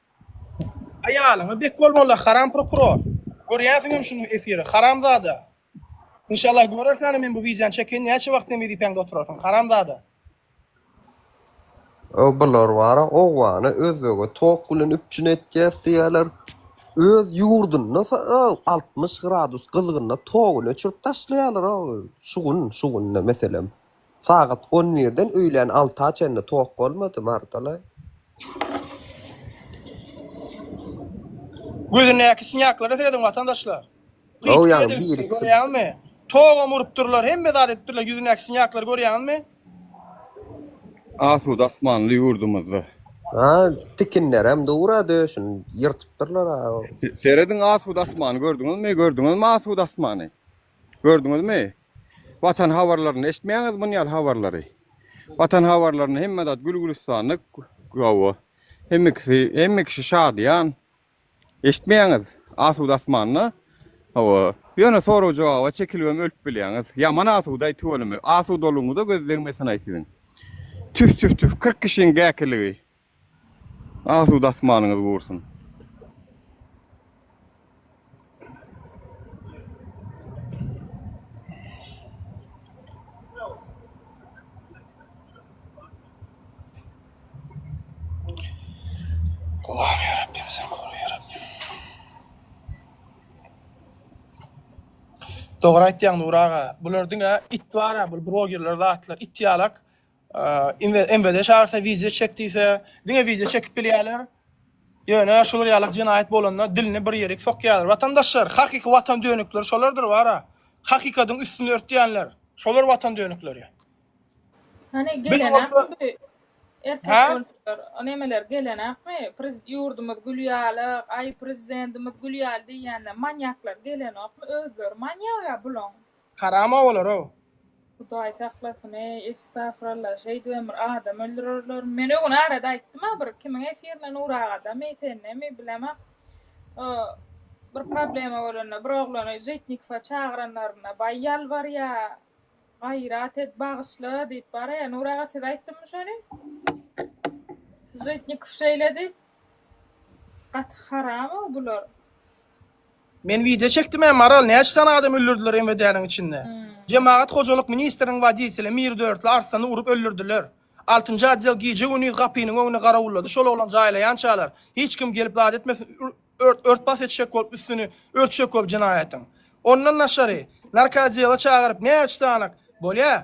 Aýalyňa bek bol molla haram prokuror. Görýänsiňem şuny efiri haramzada. Inşallah görersiň hany men bu wideony çeken näçe wagt sen wezipäňde oturarsyň haramzada. Öo bular bara owgana özbege tok bilen üpjün etýäs diýýäler öz ýurdunda öo altmyş gradus gyzgynda togun öçürip taşlaýalar öo şugun şugun meselem. Sagat on birden öýlän alta çenli tok bolmady, Mardalaý. Gözündäki synýaklara serediň, watandaşlar! Pytgul edilipdir, görýäňizmi? Togam urupdyrlar, hemme zat edipdirler, ýüzündäki synýaklary görýäňizmi? Asuda asmanly ýurdumyzda. A, tikinlerem dur-a, döşüni ýyrtypdyrlar-a. Serediň, asuda asmany gördüňizmi? Gördüňizmi asuda asmany? Gördüňizmi? Watan habarlaryny eşitmäňiz muny ýaly habarlary. Watan habarlaryny hemme zat gül gülüstanly gowy. Hemme kişi hemme kişi şadyýan. Eşitmäňiz asuda asmanda. Hawa. Ýöne sorag jogaba çekilibem ölüp bilýäňiz. Ýaman asudaý tüweleme. Asudalygyňyza göz degmesin-aý siziň. Tüf tüf tüf 40 kişiň gäkiligi. Asuda asmanyňyz gursyn. Dogry aýtýaň Nury aga bular diňe it bar a bul brogerler zatlar it ýalak Eee, MWD çagyrsa wideo çek diýse, diňe wideo çekip bilýärler. Ýöne şular ýaly jenaýat bolanda dilini bir ýerik sokýarlar. Watandaşlar, hakyky watan dönükleri şolardyr bara. Hakykatyň üstüni örtýänler. Şolar watan dönükleri. Hany gelenakmy bu erkek bolsalar, o nemeler gelenakmy? Prezid ýurdumyz gül ýaly, aý prezidentimiz gül ýaly diýýänler, manýaklar gelenokmy? Özleri manýak ýa bulaň. Haram owalar-ow. Hudaý saklasyn eý estafralla şeýdibem bir adam öldürerlermi men öňüni arada aýtdym-a bir kimiň efirine Nur agadamy sendemi bilemok o bir problema bolanda bir oglany Žitnikowa çagyranlarynda baý ýalbarýa gaýrat et bagyşla diýip bara-ya Nur aga siz aýtdymmy şony Žitnikow şeýle diýip gaty haram-ow bular. Men wideo çekdim hem Maral näçe sany adam öldürdiler MWD-niň içinde. Hmm. Jemagat hojalyk ministriniň woditeli Mir Dörtli Arslany urup öldürdiler. Altynjy odel gije güniz gapynyň öňüne garawullady şol oglan jaýlaýançalar hiç kim gelip zat etmesin ört bas etjek bolup üstüni örtjek bolup jenaýatyň. Ondan daşary narkoodela çagyryp näçe sany bolýa?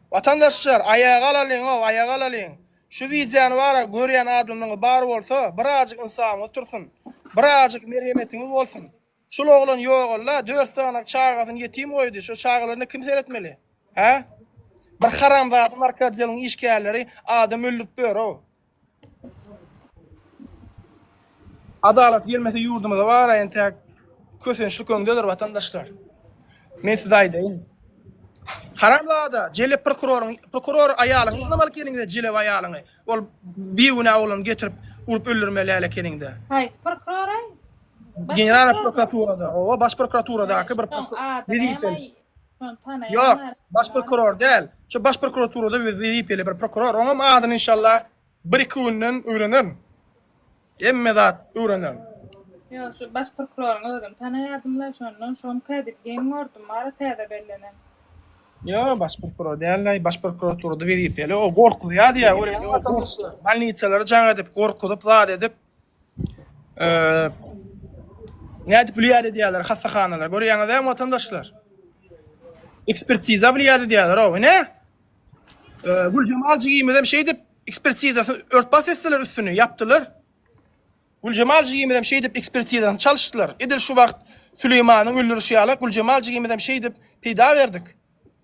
Watandaşlar aýaga alalyňow aýaga alalyň şu wideony bara görýän adamlaň bar bolsa birazjyk ynsabyňyz otursyn birazjyk merhemetiňiz bolsun şul oglan ýogalla dört sanaň çagasyny ýetim goýdy şo çagalaryna kim seretmeli hä bir haramzada narkotdeliň işgärleri adam öldürip börow Adalat gelmese ýurdumyza bara entäk kösençlik öňdedir watandaşlar. Men size aýdaýyn. Haramzada, jelep prokuroryň, prokuror aýalyňy ýygnamaly ekeniňiz, jelep aýalyňy. Ol bigünä oglany getirip urup öldürmeli äle ekeniňiz. Haýsy prokurora? General prokuraturada, owa baş prokuraturadaky bir prokuror. Wezipeli. Yok, baş prokuror däl. Şu baş prokuraturada bir wezipeli bir prokuror. Oňam adyny inşallah bir iki günden öwrenerin. Hemme zat öwrenerin. Yok, şu baş prokuroryň özüm tanaýardym la şondan, şom kädip geň gördüm, bara täze bellenen. Yok, baş prokuror däl la, baş prokuraturada wezipeli. O gorkuzýar diýär, görýäňmi watandaşlar? Bolnitsalary jaň edip, gorkuzyp, zat edip. Eee Nädip wlýad edýärler hassahanalar? Görýäňiz hem watandaşlar. Ekspertiza wlýad edýärler o. Ne? Ee, Güljemal jigimiz hem şeýdip ekspertizasyny örtbas etdiler üstüni, ýapdylar. Güljemal jigimiz hem şeýdip ekspertizasyny çalyşdylar. Edil şu wagt Süleýmanyň öldürişi ýaly Güljemal jigimiz hem şeýdip peýda berdik.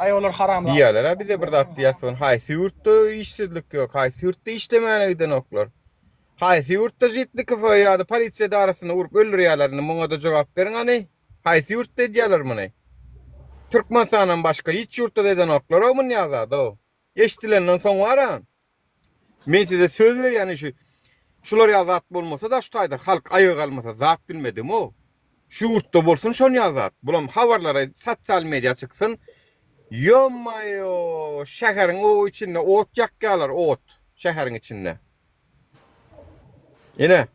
Diýýärler-ä bize bir zat diýýäsogyn, haýsy ýurtda işsizlik ýok, haýsy ýurtda işlemäne gidenoklar? Haýsy ýurtda Žitnikowy ýa-da polisiýa edarasyny urup öldürýärler? Indi muňa-da jogap beriň hany? Haýsy ýurtda edýärler muny? Türkmenistandan başga hiç ýurtda-da edenoklar-ow munýa zad-ow. Eşidilenden soň bar-a, Men size söz berýän şu şular ýaly zat bolmasa-da şu taýda halk aýaga galmasa zat bilmedim-ow. Şu ýurtda bolsun şon ýaly zat. Bulam habarlara sosial media çyksyn. Ýommaýo, şäheriň o içinde ot ýakýalar, ot şäheriň içinde. Ine,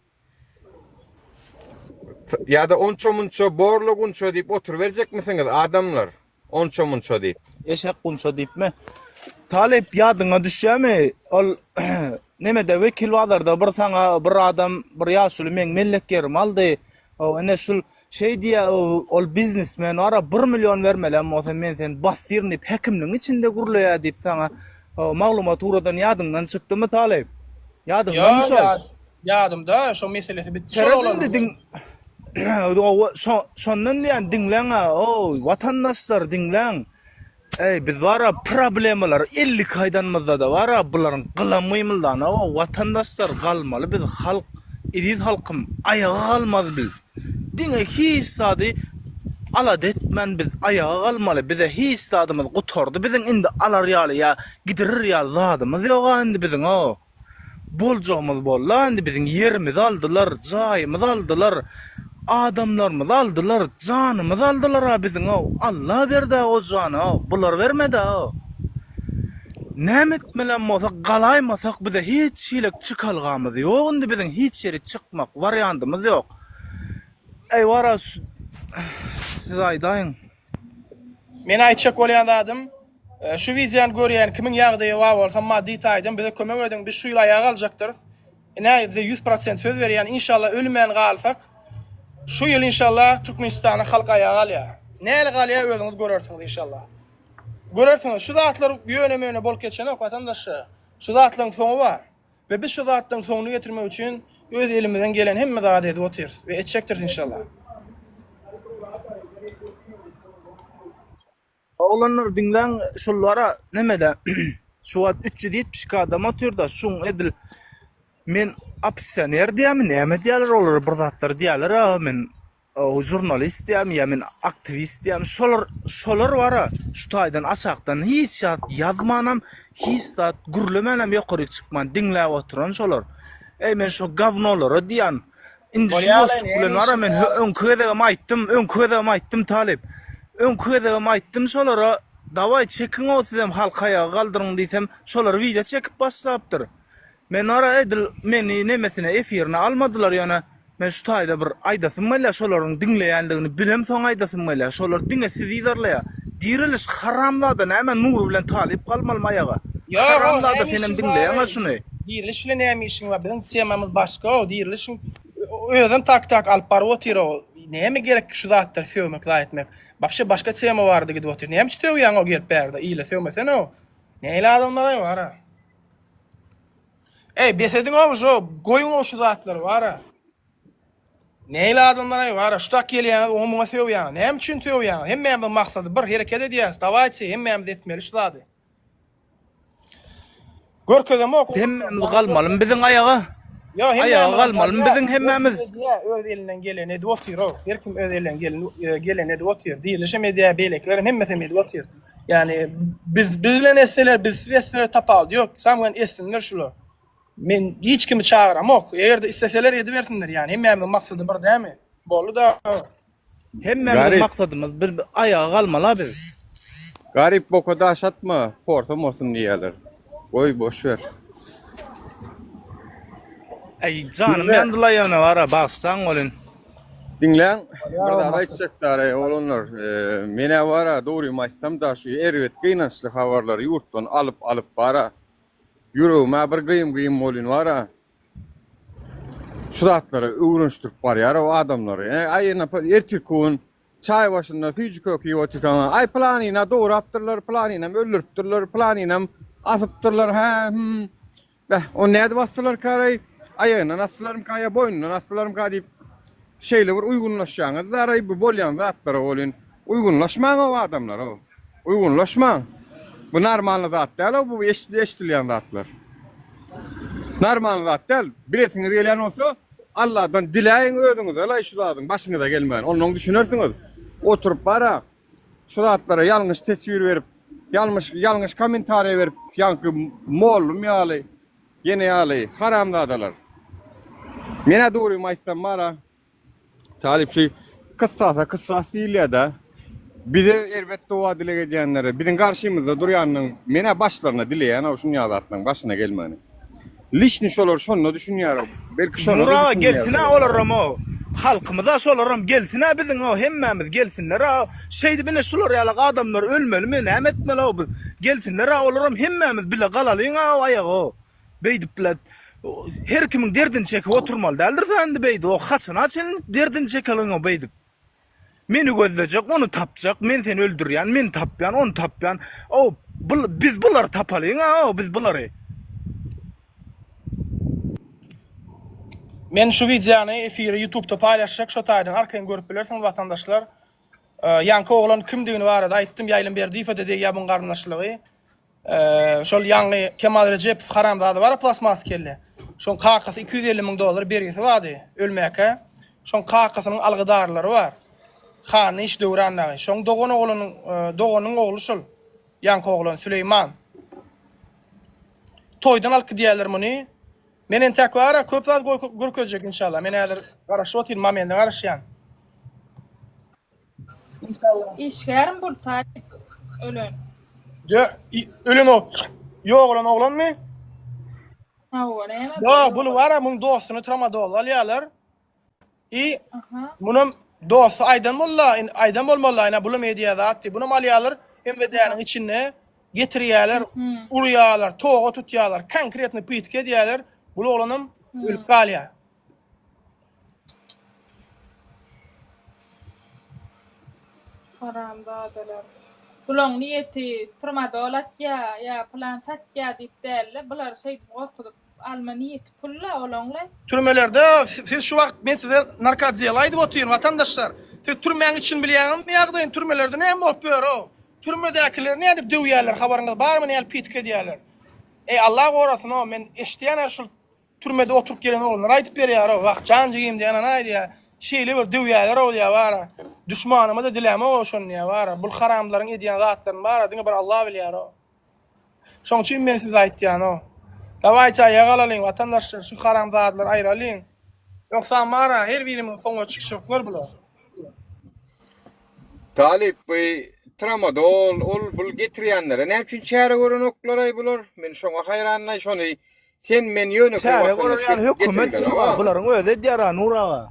Ýa-da onça-munça borla gunça diýip oturyberjekmisiňiz, adamlar? Onça-munça diýip. Eşek gunça diýipmi? Talyp, ýadyňa düşýärmi, ol nemede, Wekilbazarda bir saňa bir adam, bir ýaşuly meň mellek ýerimi aldy. Ho, ine şul Şeý diýýä, ol biznesmen, Wara, bir million bermelem bolsa, men seni basdyryn diýip, häkimligiň içinde gürleýär diýip saňa maglumat ugradan ýadyňdan çykdymy, talyp? Ýadyňdanmy şol? Ýa-ýa, ýadymda, şo meselesi bitdi şol oglanyň. Tere indi diň, şondan diýýän, diňläň-ä, oý, watandaşlar, diňläň! Eý biz bara problemalary elli iki aýdanymyzdada bara bularyň gylam gymyldanagow watandaşlar galmaly biz halk eziz halkym aýaga galmaz biz diňe hiç zady alada etmän biz aýaga galmaly bize hiç zadymyz gutardy biziň indi alar ýaly ýa gidirir ýaly zadymyz ýoga indi biziňow. boljagymyz bolda indi biziň ýerimizi aldylar jaýymyzy aldylar adamlarymyzy aldylar janymyzy aldylara biziň ow Alla berdä o jany ow bular bermedä ow näme etmelem bolsak galaýmasak bize hiç hilek çykalgamyz ýok indi biziň hiç ýere çykmak warýandymyz ýok eý wara şu siz aýdaýyň Men aýtjak bolýan zadym, e, şu wideony görýän kimiň ýagdaýy bar bolsa, maddy taýdan bize kömek ediň, biz şu ýyl aýak aljakdyrys. Ine, size ýüz prosent söz berýän, inşallah ölmän galsak, şu ýyl inşallah Türkmenistany halk aýak alýar. Näle galýar özüňiz görersiňiz inşallah. Görersiňiz, şu zatlar ýöne-möne bolup geçenok watandaşlar. Şu zatlaryň soňy bar. We biz şu zatlaryň soňuny getirmek üçin öz elimizden gelen hemme zady edip otyrys we etjekdiris inşallah. Oglanlar diňläň şullara nemede şu wagt 372 adam otyrda şuň edil men opsioner diýämi näme diýerler olara bir zatlar diýerler aga men Žurnalist diýýärmi ýa men aktiwist diýýärmi şolar şolar bara şu taýdan aşakdan hiç zat ýazmanam hiç zat gürlemänem ýokaryk çykman diňläp oturan şolar eý men şo gawnolara diýýän indi şu boşluk bilen bara men öňki gezegem aýtdym öňki gezegem aýtdym talyp öňki gezegem aýtdym şolara dawaý çekiňow sizem halky aýaga galdyryň diýsem şolar wideo çekip başlapdyr Men ara edil meni nemesine efirine almadylar ýöne men şu taýda bir aýdasym gelýär şolaryň diňleýändigini bilem soň aýdasym gelýär şolar diňe sizi yzarlaýar diriliş haramzada näme nury bilen talyp galmalymy aýaga Ýok o haramzada näme senem işiň bar diňleýäňa şuny. Diriliş bilen näme işiň bar biziň temamyz başga o dirilişiň özem tak tak alyp baryp otyr o näme gerekki şu zatlar sögmek zaý etmek wapşe başga tema barada gidip otyr näme üçin sögýäň o gelip bärde ile sögmesene o neýle adamlaraý bara. Eý bes ediňow şu goýuňow şu zatlary bara. Neýle adamlareý bara şu tak gelýäňiz oňa muňa sögýäňiz näme üçin sögýäňiz hemmämiziň maksady bir hereket edýäs dawaýçy hemmämiz etmeli şu zady. Görkezemok oňa. Hemmämiz galmalymy biziň aýaga? Ýa hemmämiz galmalymy biziň hemmämiz? Öz elinden geleni edip otyrow her kim öz elinden geleni edip otyr dirilişem edýär beýlekilerem hemmesem edip otyr. Yani biz biz bilen etseler biz siz etseler tapawudy yok. Sam bilen etsinler şular. Men hiç kimi çagyramok. Eger de isteseler edibersinler yani. Hemmämiň maksady bir dämi? Boldy da. Hemmämiň Garip. maksadymyz bir bir ayaga galmaly biz. Garip boka daş atma, porsa morsun diýýärler. Goý boş ber. Eý janym ýandylaý ýöne bara bagyşlaň welin. Diňläň bir zat aýtjak dary oglanlar menä bara dogrymy aýtsam da şu erbet gynançly habarlary ýurtdan alyp alyp bara ýüregimä bir gyýym gyýym bolýn bara şu zatlary öwrenşdirip barýar o adamlary eý ýene ertirki gün Çaý başynda süýji kök iýip otyrkaň, Aý, pylanyny-a dograpdyrlar, pylanyny-am öldüripdirler, pylanyny-am asypdyrlar, hä, hüm. Beh, ony nädip asdylarkaraý? Aýagyndan asdylarmyka ýa boýnundan asdylarmyka diýip, şeýle bir uýgunlaşýaňyz-da-raý bu bolýan zatlara welin, uýgunlaşmaň-ow, adamlar-ow! Uýgunlaşmaň. Bu normalny zat däl-ow bu eşit eşidilýän zatlar. Normalny zat däl. Bilesiňiz gelýän bolsa Alladan diläýiň özüňizelaý şu zadyň başyňyza gelmegini. Onda oň düşünersiňiz. Oturyp bara şu zatlara ýalňyş teswir berip, ýalmyş ýalňyş kommentariýa berip ýaňky mollum ýaly, ýene ýaly haramzadalar. Men-ä dogrymy aýtsam bara Talyp şu kyssasa kyssas diýilýär-dä. Bize erbet doga dileg edýänlere, biziň garşymyzda durýanyň men-ä başlaryna dileýän-ow şunýag zatlaryň başyna gelmegini. Lişni şolar şonda düşünýär-ow. Belki şonda düşünýärler. Nur aga gelsin-ä olaram-ow. Halkymyz-a şolaram gelsin-ä biziň-ow hemmämiz gelsinler-ä. Şeýdip ine şular ýaly adamlar ölmelimi, näme etmeli-ow biz. Gelsinler-ä olaram hemmämiz bile galalyň-ow aýaga-ow. Beýdipler. Her kimiň derdini çekip oturmaly däldir sen indi beýdip. O haçana çenli derdini çekeliň o beýdip. Meni gözlejek, ony tapjak. Men seni öldürýän, meni tapýan, ony tapýan. O biz bulary tapalyň, a o biz bulary. Men şu wideony efiri YouTube'da paýlaşjak, şo taýdan arkaýyn görüp bilersiňiz watandaşlar. Ýaňky oglan kimdigini barada aýtdym, Ýaýlym Berdiýew-de degýär muň garyndaşlygy. Eee şol ýaňy Kemal Rejepow haramzada bar plastmas kelle. Şoň kakasy 250 müň dollar bergisi bardy ölmäkä. Şoň kakasynyň algydarlary bar. Hany iş Döwran dagy. Şoň dogan oglunyň doganyň ogly şol ýaňky oglan Süleýman. Toýdan alyp gidýärler muny. Men entäk bara köp zat görkezjek inşallah. Men häzir garaşyp otyryn, momende garaşýan. Inşallah. Işgärim Bultaýew ölen. Yo, ölen o. Yok olan oğlan mı? Hawa, näme? Yo, bunu var ya, bunun dostunu tramadol alýarlar. I Aha. bunun dostu aydan bolla, aydan bolmaly, ayna bulum hediye zat diye. Bunun alýarlar, MVD-niň içinde getirýärler, urýarlar, toga tutýarlar, konkretny pytk edýärler. Bu oglanam ölüp galýar. Haramzadalar. Bulaň niýeti trmadol atýa ýa plan satýa diýip dälde bulary şeýdip gorkuzyp alma niýeti pul la olaň la. Türmelerde siz şu wagt men size narkodiýel aýdyp otyryn watandaşlar. Siz türmäň içini bilýäňizmi ýagdaýyny türmelerde näme bolup ýör o. Türmedäkileri nädip döwýäler habaryňyz barmy nädip pitik edýäler. Eý Allah gorasyn o men eşidýän her şul Türmede oturyp gelen oglanlar aýdyp berýär-ow, wah, jan jigim diýen ana aýdýar. Şeýle bir döwýärler-ow diýýär, bara. Duşmanyma-da diläm-ow şony diýýär, bara. Bul haramlaryň edýän zatlaryny, bara, diňe bir Alla bilýär-ow. Şoň üçin men size aýtýan-ow. Dawaýçy aýaga alalyň, watandaşlar, şu haramzadalary aýralyň. Ýogsam, bara, her birimiziň soňuna çykyşoklar bular. Talyp, bu tramadol, ol-bul getirýänlere näme üçin çäre görenoklar-aý bular? Men şoňa haýranyň-aý, şony Sen men ýöne bir Çäre watandaş görer ýaly getirmeli hökümet durma. oňa. Bularyň özi edýär-ä Nur aga.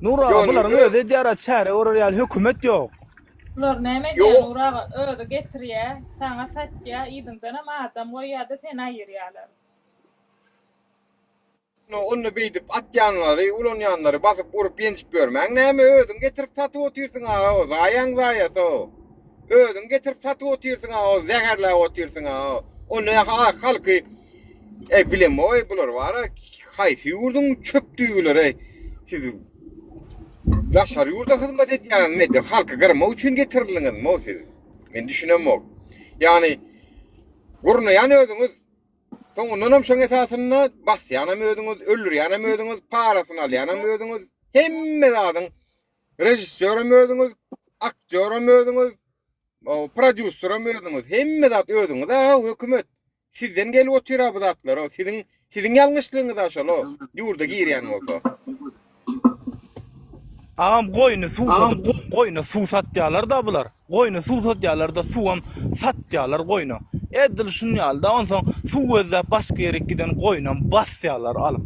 Nur aga, Ýone bularyň öz- özi edýär-ä çäre görer ýaly hökümet ýok. Bular näme edýär Ýok. Nur aga, özi getirýä, saňa satýa, yzyňdanam adam goýýada seni aýyrýalar. Ýone ony beýdip atýanlary, ulanýanlary basyp urup ýenjip ýörmäň näme özüň getirip satyp otyrsyň aga o zaýaň zaýa so. Özüň getirip satyp otyrsyňa o zäherläp otyrsyňa o o ne halky e bilemoý bular bara haýsy ýurduň çöp düýbüleri siz daşary ýurda hyzmat edýäňiz medi halky gyrmak üçin getirildiňiz mo siz men düşünemok ýani gurnaýan özüňiz soňundan hem şoň esasynda basýan hem özüňiz öldürýän hem özüňiz parasyny alýan hem özüňiz hemme zadyň Režissýoram özüňiz, aktýoram özüňiz, prodýuseram özüňiz, hemme zat özüňiz-a-haw, hökümet. Sizden gelip otyr-a bu zatlar-a, siziň siziň ýalňyşlygyňyz-a şol-a, ýurda girýän bolsa. Agam goýny suw satyp goýna suw satýalar-da bular. Goýna suw satýalar-da suwam satýalar goýna. Edil şunýaly-da onsoň suw gözläp başga ýerik giden goýnam basýalar alyp.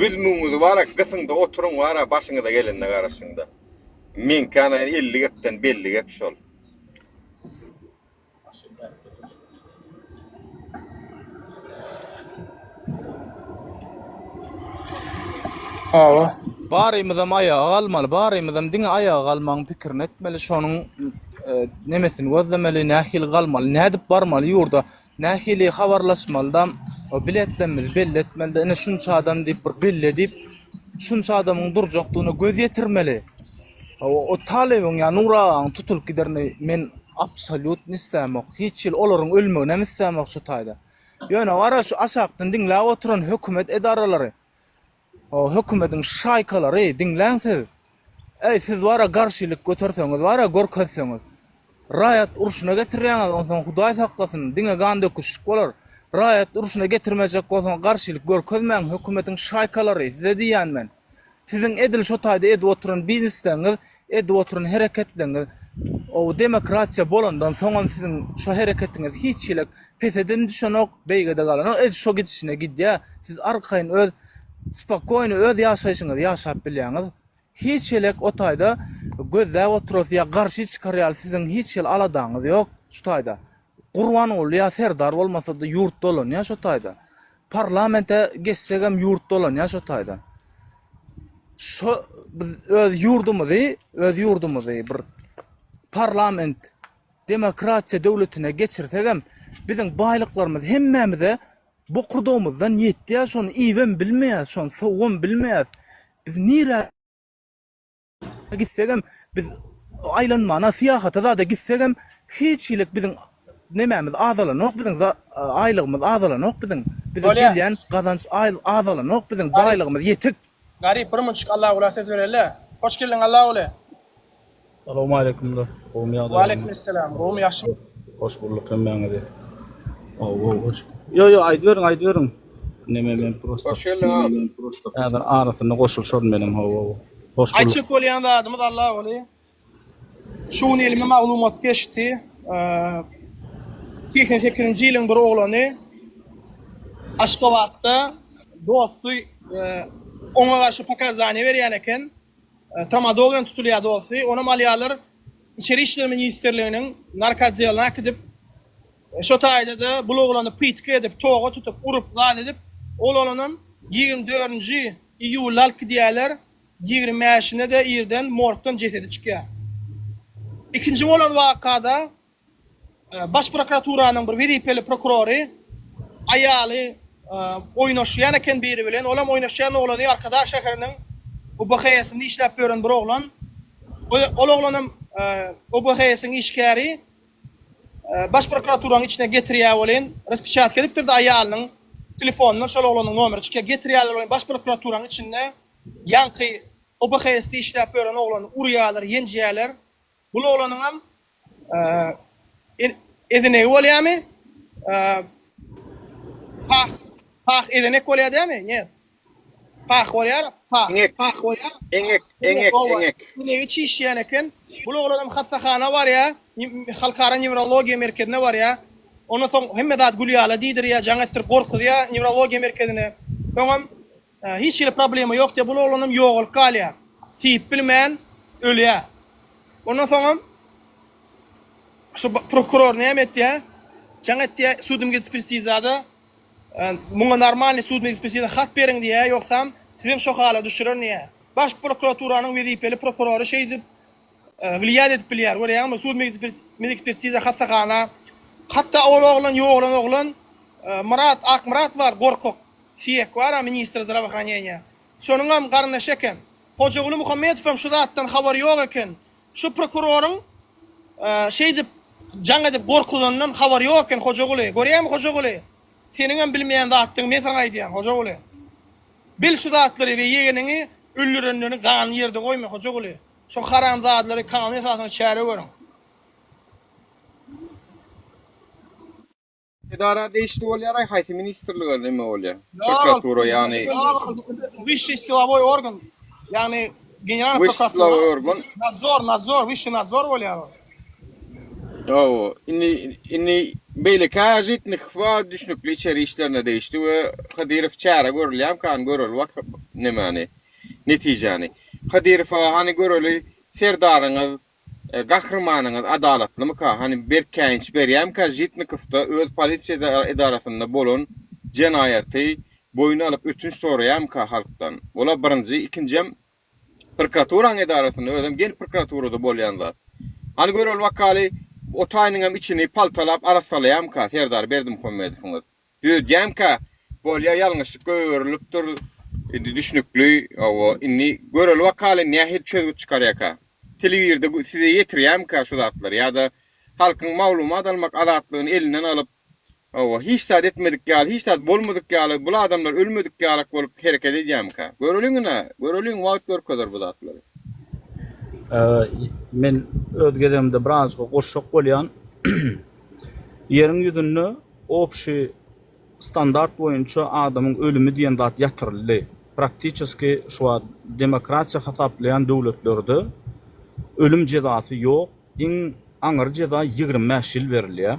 Büzmügiňizi bara gysyňda oturyň bara başyňyza gelende garaşyňda. Meňki ana elli gepden belli gep şol. Hawa. Barymyzam aýaga galmaly, barymyzam diňe aýaga galmagyň pikirini etmeli, şonuň nemesini gözlemeli, nähili galmaly, nädip barmaly ýurda, Nähili habarlaşmalydam, o biletlemeli, belli etmelide, ine şunça adam diýip bir belli edip, şunça adamyň durjakdygyna göz ýetirmeli. O talybyň ýa Nur agaň tutulyp giderini men absolýutny islämok. Hiç ýyl olaryň ölmeginem islämok şu taýda. Ýöne gara şu aşakdan diňläp oturan hökümet edaralary. O hökümediň şaýkalary diňläň siz. Eý siz bara garşylyk göterseňiz bara görkezseňiz. Raýat urşuna getirýäňiz onsoň hudaý saklasyn diňe gan döküşlik bolar. Raýat urşuna getirmejek bolsaň garşylyk görkezmäň hökümediň şaýkalary size diýýän men. Siziň edil şotaýda edip oturan biznesleňiz Edip oturan hereketleriňiz ow demokratiýa bolandan soňam siziň şo hereketiňiz hiç hili pesedem düşenok beýgede galanok edil şo gidişine gidýä siz arkaýyn öz spokoýny öz ýaşaýşyňyzy ýaşap bilýäňiz hiç elek o taýda gözläp oturasy ýa garşy çykarýaly siziň hiç hili aladaňyz ýok şu taýda Gurbanguly ýa Serdar bolmasady ýurt dolanýa şo taýda. Parlamente geçsegem ýurt dolanýa şo taýda. Şo biz öz ýurdumyzy, öz ýurdumyzy bir parlament demokratiýa döwletine geçirsegem biziň baýlyklarymyz hemmämize bokurdagymyzdan ýetýä şony iýibem bilmeýäs şony sowubem bilmeýäs biz nirä Gitsegem biz aýlanmana, syýahata zada gitsegem hiç hilik biziň nemämiz azalanok biziň aýlygymyz azalanok biziň. Bize gelýän gazanç azalanok biziň baýlygymyz ýetik. Garyp bir munçik Allagula ses bereli. Hoş geldiň Allaguly. Salowmaleýkim dost gowmy ýagdaýlaryň. Waleýkimessalam gowmy ýagşymy. Hoş bulduk hemmäňizi. Gowy gowy hoş. Ýo ýo aýdyberiň aýdyberiň. Neme men prosta. Hoş geldiň Neme men prosta. Häzir arasyna goşulşar meniň ho ho. Hoş bulduk. Açyk bolýan zadymyz Allah goly. Şu gün elime maglumat geçdi. 88-nji ýylyň bir oglany Aşgabatda dosty oňa garşy pokazaniýe berýän eken. Tramadol bilen tutulýar dosty. Onam alýarlar. İçeri işler ministrliginiň narkodeline gidip Şo taýda-da bul oglany pytky edip, toga tutup, urup, lal edip, ol oglanam ýigrimi dördünji iýulda alyp gidýärler, ýigrimi bäşinde-de irden morgdan jesedi çykýar. Ikinji bolan wakada Baş prokuraturanyň bir wezipeli prokurory aýaly oýnaşýan eken biri bilen, olam oýnaşýan oglany Arkadag şäheriniň UBHS-inde işläp ýören bir oglan. Ol oglanam UBHS-iň işgäri. Baş prokuraturanyň içine getirýär welin, raspečatka edipdir-de aýalynyň telefonyndan şol oglanyň nomeri çykýar. Getirýärler welin, baş prokuraturaň içinde ýaňky OBHS-de işläp ýören oglany urýarlar, ýenjýärler. Bul oglanyňam ezenegi bolýamy? Pah, pah ezenek bolýar dämi? Njet. Pah bolýar, pah, Eňek, pah bolýar, eňek, pah. Eňek, eňek, oba, eňek. eňegi çişýän eken. Bul oglanam hassahana barýar, nji Halkara newrologiýa merkezine barýar. Ondan soň hemme zat gül ýaly diýdirýär, jaň etdirip gorkuzýar newrologiýa merkezine. Soňam e, hiç hili problema ýok diýip, bul oglanam ýogalyp galýar. Syýyp bilmän ölýär. Ondan soňam şu ba- prokuror näme etýär? Jaň etýär sudemgedekspertizada Muňa normalny sudny ekspertiza hat beriň diýýär, ýogsam sizem şo hala düşürer diýýär. Baş prokuraturanyň wezipeli prokurory şeýdip wliýat edip bilýär. Görýäňmi, sud medekspertiza hassahana. Hatda ol oglan ýogalan oglan Myrat Akmyrat bar, gorkak. Siýek bar-a ministr zdrawahraneniýa. Şonuňam garyndaşy eken. Hojaguly Muhammedowam şu zatdan habary ýok eken. Şu prokuroryň şeýdip jaň edip gorkuzandan habary ýok eken Hojaguly. Görýäňmi Hojaguly? Seniňem bilmeýän zatdygyňy men saňa aýdýan Hojaguly. Bil şu zatlary we ýegeniňi öldürenlerini ganyny ýerde goýma Hojaguly. Şu haramzadalary kanun esasynda çäre görüň. Edara degişli bolýar, haýsy ministrlige näme bolýar? Prokuratura ýagny Wişi silowoý organ. Ýagny general prokuratura. organ. Nadzor, nadzor, wişi nadzor bolýar. Ýowo, indi indi beýleki ajitnik wa düşnükli içeri işlerine degişli we Kadyrow çäre görülýär kan göreli wak nämäni netijäni. Kadyrow aga hani göreli serdaryňyz Gahrymanyňyz adalatlymyka? Hany berk käýinç berýämika Žitnikowda öz polisiýa edarasynda bolan jenaýaty boýun alyp ötünç soraýamyka halkdan? Ola birinji, ikinjem prkraturaň edarasynda özem gen prkraturada bolýan zat. Hany gör ol wakaly o taýynyňam içini paltalap arassalaýamyka Serdar Berdimuhammedowyňyz? Döýdýämka bolýa ýalňyşlykka öwrülipdir indi düşnükli owo indi göreli wakaly nähili çözgüt çykarýaka telewirde size ýetirýämka şu zatlary ýada halkyň maglumat almak azatlygyny elinden alyp owo hiç zat etmedik ýaly hiç zat bolmadyk ýaly bul adamlar ölmedik ýalak bolup hereket edýämka göreliň ina göreliň wagt görkezer bu zatlary. Men öz gezegimde birazajyk goşjak bolýan. Ýeriň ýüzünde Obşi standart boýunça adamyň ölümi diýen zat ýatyryldy. Praktiçeski şu wagt demokratiýa hasaplaýan döwletlerde ölüm jezasy ýok. Iň aňyr jeza ýigrimi bäş ýyl berilýär.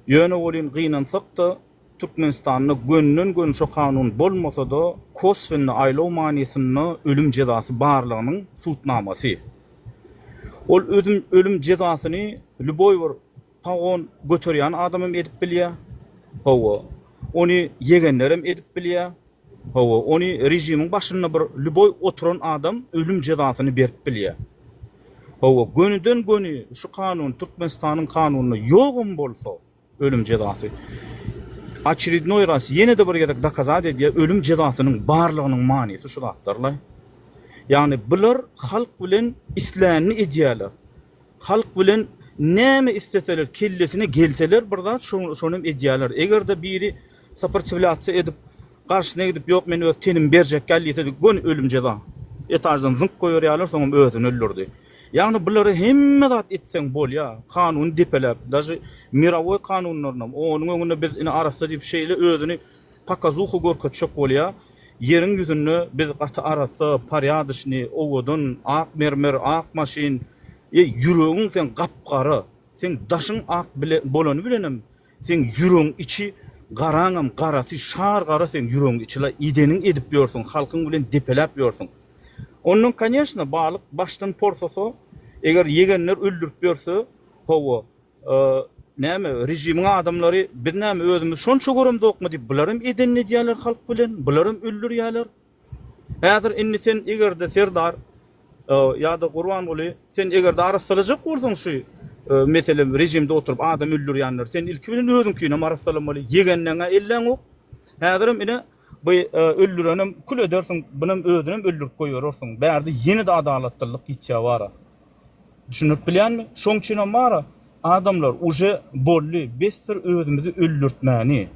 Ýöne welin gynansak-da, Türkmenistanda gönden-göni şu kanun bolmasa-da, koswenny, aýlaw manysynda ölüm jezasy barlygynyň subutnamasy. Ol özüm ölüm jezasyny lýuboý bir Pagon göterýän adamam edip bilýär. Hawa, ony ýegenlerem edip bilýär. Hawa, ony režimiň başynda bir lýuboý oturan adam ölüm jezasyny berip bilýär. Hawa, gönüden-göni şu kanun Türkmenistanyň kanunynda ýogam bolsa, ölüm jezasy oçerednoý raz, ýene-de bir gezek dokazat edýär, ölüm jezasynyň barlygynyň manysy şu zatlar-laý. Ýagny bular halk bilen islänini edýärler. Halk bilen näme isleseler kellesine gelseler bir zat şonem edýäler egerde biri saportiwlasiýa edip garşyna gidip ýok men öz tenimi berjek däl diýse göni ölüm jeza etaždan zyňk goýberýäler soňam özüni öldürdi ýagny bulara hemme zat etseň bolýa kanuny depeläp daži mirowoý kanunlarynam onuň öňünde biz ine arassa diýip şeýle özüni pokazuha görkezjek bolýar. Ýeriň ýüzünde biz gaty arassa, porýadyşnyý, owadan, ak mermer, ak maşyn, eý, ýüregiň seň gap-gara, seň daşyň ak bile bolany bilenem, seň ýüregiň içi garaňam garasy, şar gara seň ýüregiň içi-la, ideniň edip ýörsüň, halkyň bilen depeläp ýörsüň. Ondan, konýeşna, balyk başdan porsasa, eger ýegenler öldürip ýörse, hawa, Ee, näme, rejimiň adamlary, biz näme, özümiz şonça göremzokmy diýip, bularam edenini edýärler halk bilen, bularam öldürýärler. Häzir indi sen eger-de Serdar ee, ýa-da Gurbanguly, sen eger-de arassalajak bolsaň şu ee, mesele rejimde oturyp adam öldürýänleri, sen ilki bilen özüňkinem arassalamaly. Ýegenleň-ä elläňok. Häzirem ine, bu ee, öldürenem kül edersiň, bunam özünem öldürip goýberersiň. Bärde ýene-de adalatsyzlyk ýitýär bara. Düşündirip bilýänmi? Şoň üçinem bar-a, adamlar, uje boldy, besdir özümizi öldürtmäni.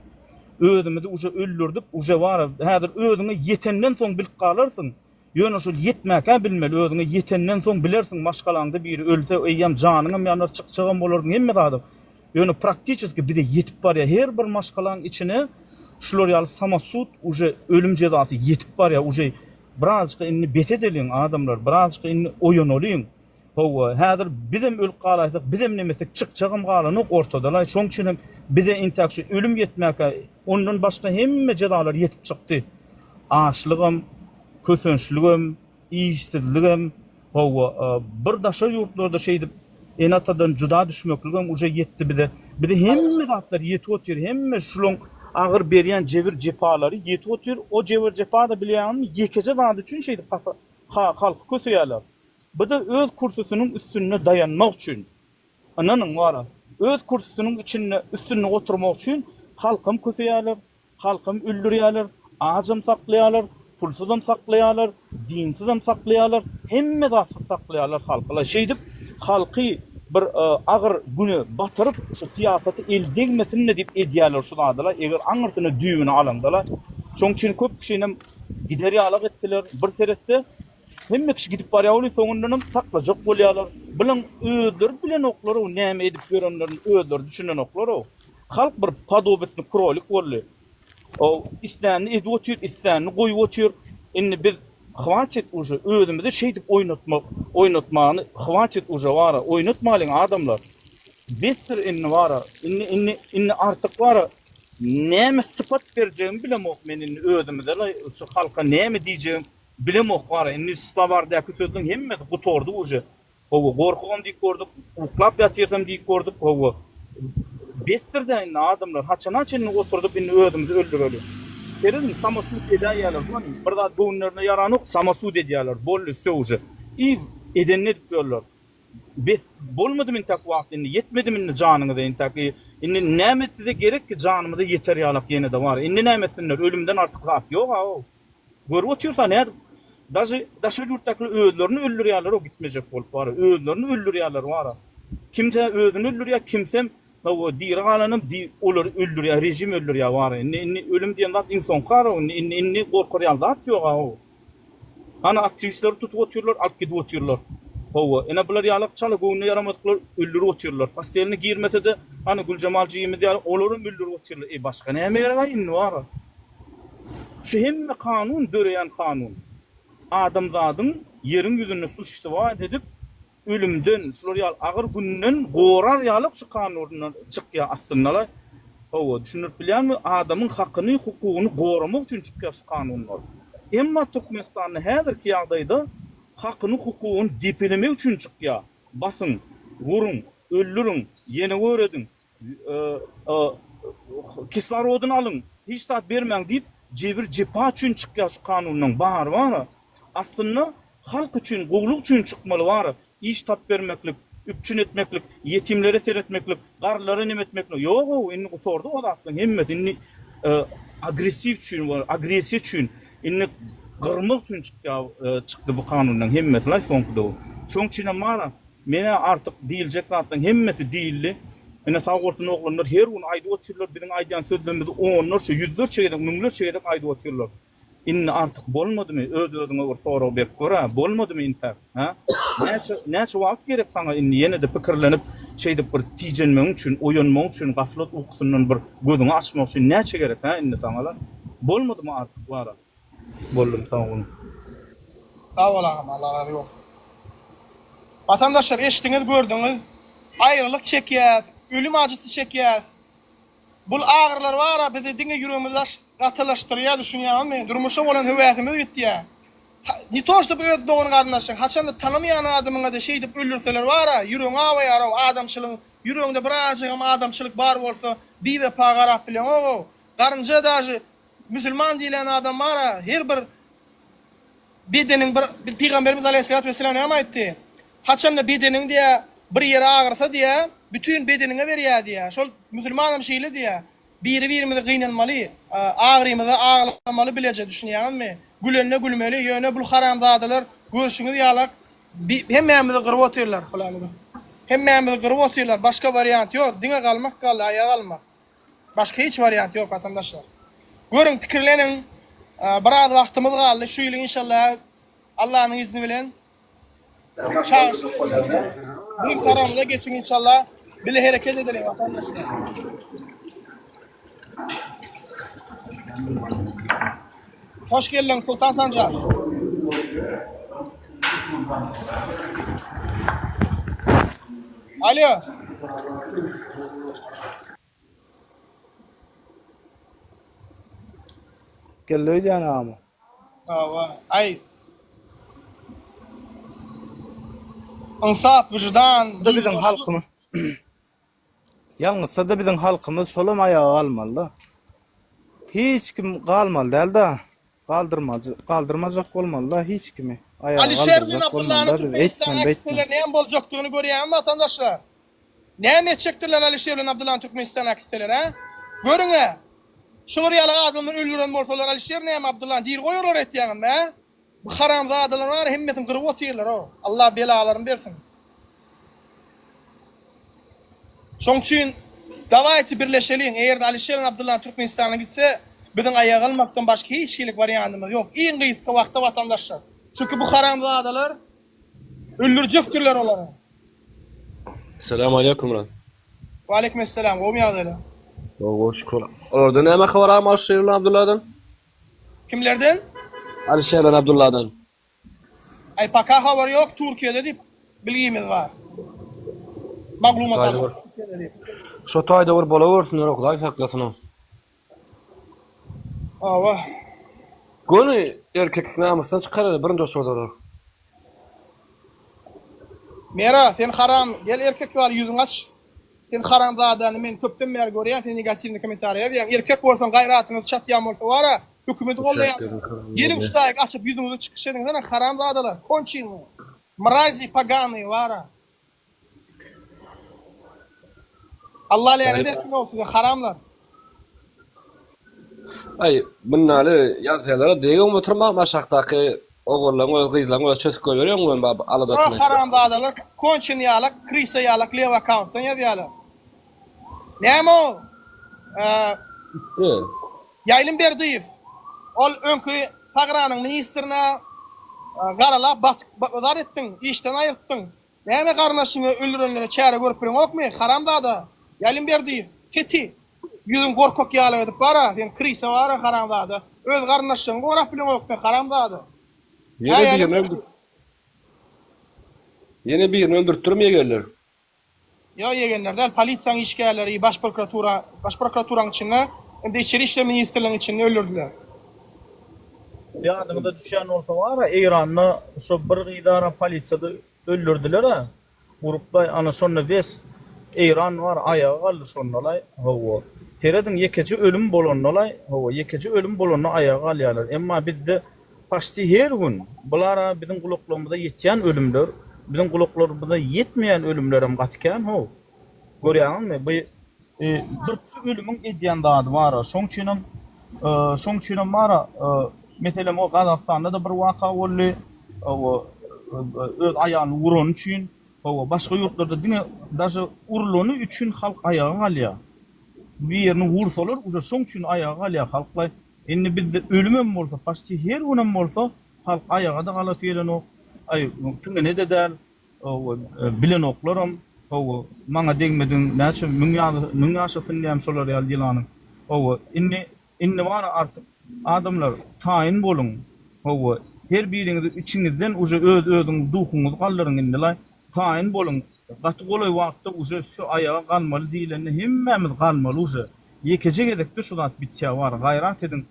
Özümizi uje öldürdip, uje bar-a, häzir özüňe ýetenden soň bilip galarsyň. Ýöne şol ýetmäk-ä bilmeli, özüňe ýetenden soň bilersiň, maşgalaňda biri ölse, eýýäm janyňam ýanar, çykjagam bolarsyň, hemme zadam. Ýöne praktiçeski bize ýetip barýar, her bir maşgalaň içine şular ýaly samosud, uje ölüm jezasy ýetip barýar, uje. Birazjyk indi bes edeliň, adamlar, birazjyk indi oýanalyň. Hawa, häzir bizem ölüp galaýsak, bizem nemesek, çykjagam galanok ortadalaý, şoň üçin hem bize entäk şu ölüm ýetmäkä, ondan başga hemme jezalar ýetip çykdy. Açlygam, kösençligem, işsizligem, Howwa, bir daşary ýurtlarda şeýdip ene-atadan juda düşmekligem uje ýetdi bize. Bize hemme zatlar ýetip otyr, hemme şulaň agyr berýän jebir-jepalary ýetip otyr. O jebir-jepa-da bilýäňizmi, ýekeje zat üçin şeýdip hasa ha halky köseýärler. Bu-da öz kürsüsiniň üstünde daýanmak üçin. Ynanyň, wara, öz kürsüsiniň içinde üstünde oturmak üçin halkam köseýärler, Halkam öldürýärler, ajam saklaýarlar, pulsuzam saklaýarlar, dinsizem saklaýarlar, hemme zatsyz saklaýarlar halky-la. Şeýdip, halky bir agyr güne batyryp, şu syýasaty el degmesin-le diýip edýärler şu zady-la, eger aňyrsyny, düýbüni alanda-la. Şonuň üçin köp kişinem gider ýalak etdiler. Bir seretse, hemme kişi gidip barýar welin, soňundanam saklajak bolýarlar. Bilaň özleri bilenoklar-ow, näme edip ýörenlerini özleri düşünenoklar-ow. Halk bir podobitni krolik boldy. Ow islänini edip otyr, islänini goýup otyr. Indi biz hwaçit uje özümizi şeýdip oýnatmak, oýnatmany hwaçit uje bara, oýnatmalyň adamlar. Besdir indi bara, indi indi indi artyk bara näme sypat berjegimi bilemok men indi özümize laý şu halka näme diýjegim bilemok bara indi slowardäki sözleň hemmesi gutordy uje. Hawa, gorkugam diýip gördük, uklap ýatyrsam diýip gördük, hawa, besdir-dä indi, adamlar, haçana çenli oturdyp, indi özümizi öldüreli? Serediň, samosud edäýýärler, hany, bir zat göwünlerine ýaranok, samosud edýärler, boldy, wsё uje, i edenini edip ýörler. Bes, bolmadymy intäk wagt indi, ýetmedimi indi janyňyza intäk, i, indi näme size gerek ki, janymyza ýeter ýalak ýene-de bar, indi näme etsinler, ölümden artyk zat ýog-a-ow! Görüp otyrsa nädip daşy daşary ýurtdakylar özlerini öldürýärlerou gitmejek bolup wara özlerini öldürýärler wara kimse özüni öldürýär kimsem hawa diri galanam di olary öldürýär režim öldürýär wara indi indi ölüm diýen zat iň soňky arou indi indi indi gorkar ýaly zat ýok aou hany aktiwistleri tutup otyrlar alyp gidip otyrlar hawa ene bular ýalak çala göwnüne ýaramadyklar öldürip otyrlar postelini girmesede hany Güljemal jigimiz ýaly olaram öldürip otyrlar e başga näme gerek aý indi wara Şu hemme kanun döreýän kanun. Adamzadyň ýeriň ýüzünde suçstwoit edip, ölümden, şular ýaly agyr günden gorar ýalyk şu kanunlar çykýar aslynda-la. Hawa, düşündirip bilýänmi, adamyň hakyny, hukugyny goramak üçin çykýar şu kanunlar. Emma Türkmenistanda häzirki ýagdaýda hakyny, hukugyny depelemek üçin çykýar. Basyň, uruň, öldüriň, ýene görediň, Kislorodyny alyň, hiç zat bermäň diýip jebir jepa üçin çykýar şu kanunlaň bary bara aslynda halk üçin gowluk üçin çykmaly bara iş tap bermeklik üpjün etmeklik ýetimlere seretmeklik garrylara neme etmeklik ýok ow indi gutardy o zatlaň hemmesi indi agresiw üçin bar agresiýa üçin indi gyrmak üçin çykýar çykdy bu kanunlaň hemmesi laý soňky döwür şoň üçinem bara Menä artyk diýiljek zatlaň hemmesi diýildi. Ine sag bolsun oglanlar her gün aýdyp otyrlar biziň aýdýan sözlerimizi onlarça ýüzlerçe gezek müňlerçe gezek aýdyp otyrlar. Indi artyk bolmadymy öz özüňe bir sorag berip görä bolmadymy intäk hä? Näçe näçe wagt gerek saňa indi ýenede pikirlenip şeýdip bir tijenmegiň üçin oýanmagyň üçin gaflat ukusyndan bir gözüňi açmak üçin näçe gerek hä indi saňala? Bolmadymy artyk wara? boldum soň gün. Sag bol agam Allah razy bolsun. Watandaşlar eşdiňiz gördüňiz aýralyk çekýäs ölüm ajysy çekýäs bul agyrylar bara bizi diňe ýüregimizi gatylaşdyrýar düşünýäňizmi durmuşa bolan höwäsimiz gitýär ne to ştob öz dogan garyndaşyň haçanda tanamaýan adamyňada şeýdip öldürseler bara ýüregiň awaýarow adamçylygyň ýüreginde bir ajygam adamçylyk bar bolsa biwepa garap bileňogow garynja dažy Musulman diýlen adam bara her bir bedeniň bir Pygamberimiz Aleýhissalat we Selam näme aýtdy? Haçanda bedeniň diýä bir ýeri agyrsa diýä bütin bedeniňe berýä diýä şol musulmanam şeýle diýä biri birimizi gynanmaly agyrymyza aglamaly bileje düşünýäňizmi gülende gülmeli ýöne bul haramzadalar görşüňiz ýalak hemmämizi gyryp otyrlar hemmämizi gyryp otyrlar başga wariant ýok diňe galmak galdy aýa galmak Başga hiç wariant ýok watandaşlar. Görüň, pikirleniň. Biraz wagtymyz galdy. Şu ýyl inşallah Allanyň izni bilen çagyryş geçirmeli. Biziň tarapymyza geçiň inşallah. Bile hereket edeliň watandaşlar. Hoş geldiň Sultan Sanjar. Alo. Geldi öýdýän agamy. Hawa, aý. Ynsap, wyjdan, biziň halkymy. Ýalňyşsada biziň halkymyz şolam aýaga galmalyda. Hiç kim galmaly dälda. Galdyrmaly, galdyrmajak bolmalyda hiç kimi. Aýaga Alişer galdyrjak Zeynabullah bolmalyda biz Türkmenistan eýtmeli beýtmeli. aktivistler näme boljakdygyny görýäňizmi watandaşlar? Näme etjekdirler Alişer bilen Abdullany Türkmenistan aktivistler hä? Görüň-ä. Şular ýaly adamlar öldüren bolsalar Alişer näme Abdullany diri goýarlar eýtýäňizmi hä? Bu haramzadalar bary hemmesini gyryp otyrlar o Allah belalaryny bersin. Şoň üçin dawaýçy birleşeliň eger de Alişeriň Abdyllany Türkmenistana gitse biziň aýak almakdan başga hiç hilik wariantymyz ýok iň gysga wagtda watandaşlar. Çünki bu haramzadalar öldürjekdirler olary. Salam aleykum Murat. Waleýkum essalam gowmy ýagdaýlar. Sag bol şükür. Olardan näme habar agam Alişeriň Abdylladan? Kimlerden? Alişerden Abdulladan. Aý paka habar ýok Türkiýede diýip bilgimiz bar. Maglumat Şotaýda bir. Şotaýda bir bolawersinler Hudaý saklasyn. Hawa. Göni erkeklik namysdan çykarar birinji oçurdalar. Mera sen haram gel erkek ýaly ýüzüňi aç. Sen haramzadany men köpden bäri görýän sen negatiwny komentariýa ýazýaň erkek bolsaň gaýratyňyz çatýan bolsa wara hökümedi goldaýanlar geliň ştaýk açyp ýüzüňizi çykyş ediň hany haramzadalar konçenýa mrazi paganyý wara Alla länet etsin ol size haramlar. Aý, mundaly ýazýalara degip oturmagam aşakdaky ogullaň öz gyzlaň öz çösüp goýberýäň ony bab aladasyny etýär. O haramzadalar konçen ýalak krisa ýalak lew akauntdan ýazýalar. Näme o Ýaýlym Berdiýew ol öňki pagranyň ministrine garalap batyk zar etdiň işden aýyrtdyň. Näme garyndaşyňy öldürenlere çäre görüp bileňokmy, haramzada? Ýalimberdiýew, Teti, ýüzüň gorkak ýaly edip bar-a, sen krisa bar-a, haramzada. Öz garyndaşlaryňy gorap bileňokmy, haramzada? Ýene birini öldürtdirim ýegerler. Ýa ýegenler däl, polisiýaň işgärleri, baş prokuratura, baş prokuraturaň içinde, hem-de içeri işler ministrligiň içinde öldürdiler. Ýadyňyza düşýän bolsa bar-a, Eýranda şo bir gyzara polisiýada öldürdiler-ä, urup-laý, ana şonda wes Eýran bar, aýaga galdy şonda-laý, hawa. Serediň, ýekeje ölüm bolanda-laý, hawa, ýekeje ölüm bolanda aýaga galýarlar, emma bizde, Paçti her gün bulara biziň gulaklarymyza ýetýän ölümler, biziň gulaklarymyza ýetmeýän ölümlerem gaty kän how. Görýäňizmi, bu birki ölümiň edýän zady bar-a. Şoň üçinem, şoň üçinem bar-a, meselem, o Gazagystanda-da bir waka boldy, hawa, öz aýalyny urany üçin, hawa, başga ýurtlarda diňe daže urlany üçin halk aýaga galýar. Birini ursalar, uje şoň üçin aýaga galýar halk-laý. Indi bizde ölümem bolsa, paçti her günem bolsa, halk aýaga-da galasy gelenok, aý, piňine-de däl, hawa, bilenoklarym, hawa, maňa degmediň, näçe müň ýaly, müň ýaşasyn diýýän şolar ýaly ýylanyň, hawa, indi, indi bara artyk, adamlar, taýyn boluň, hawa, her biriňiz içiňizden uje öz-özüňiz duhuňyzy galdyryň indi-laý, Taýyn boluň gaty golaý wagtda uje sü aýaga galmaly diýilende hemmämiz galmaly uje ýekeje gezekde şu zat bitýä bar gaýrat ediň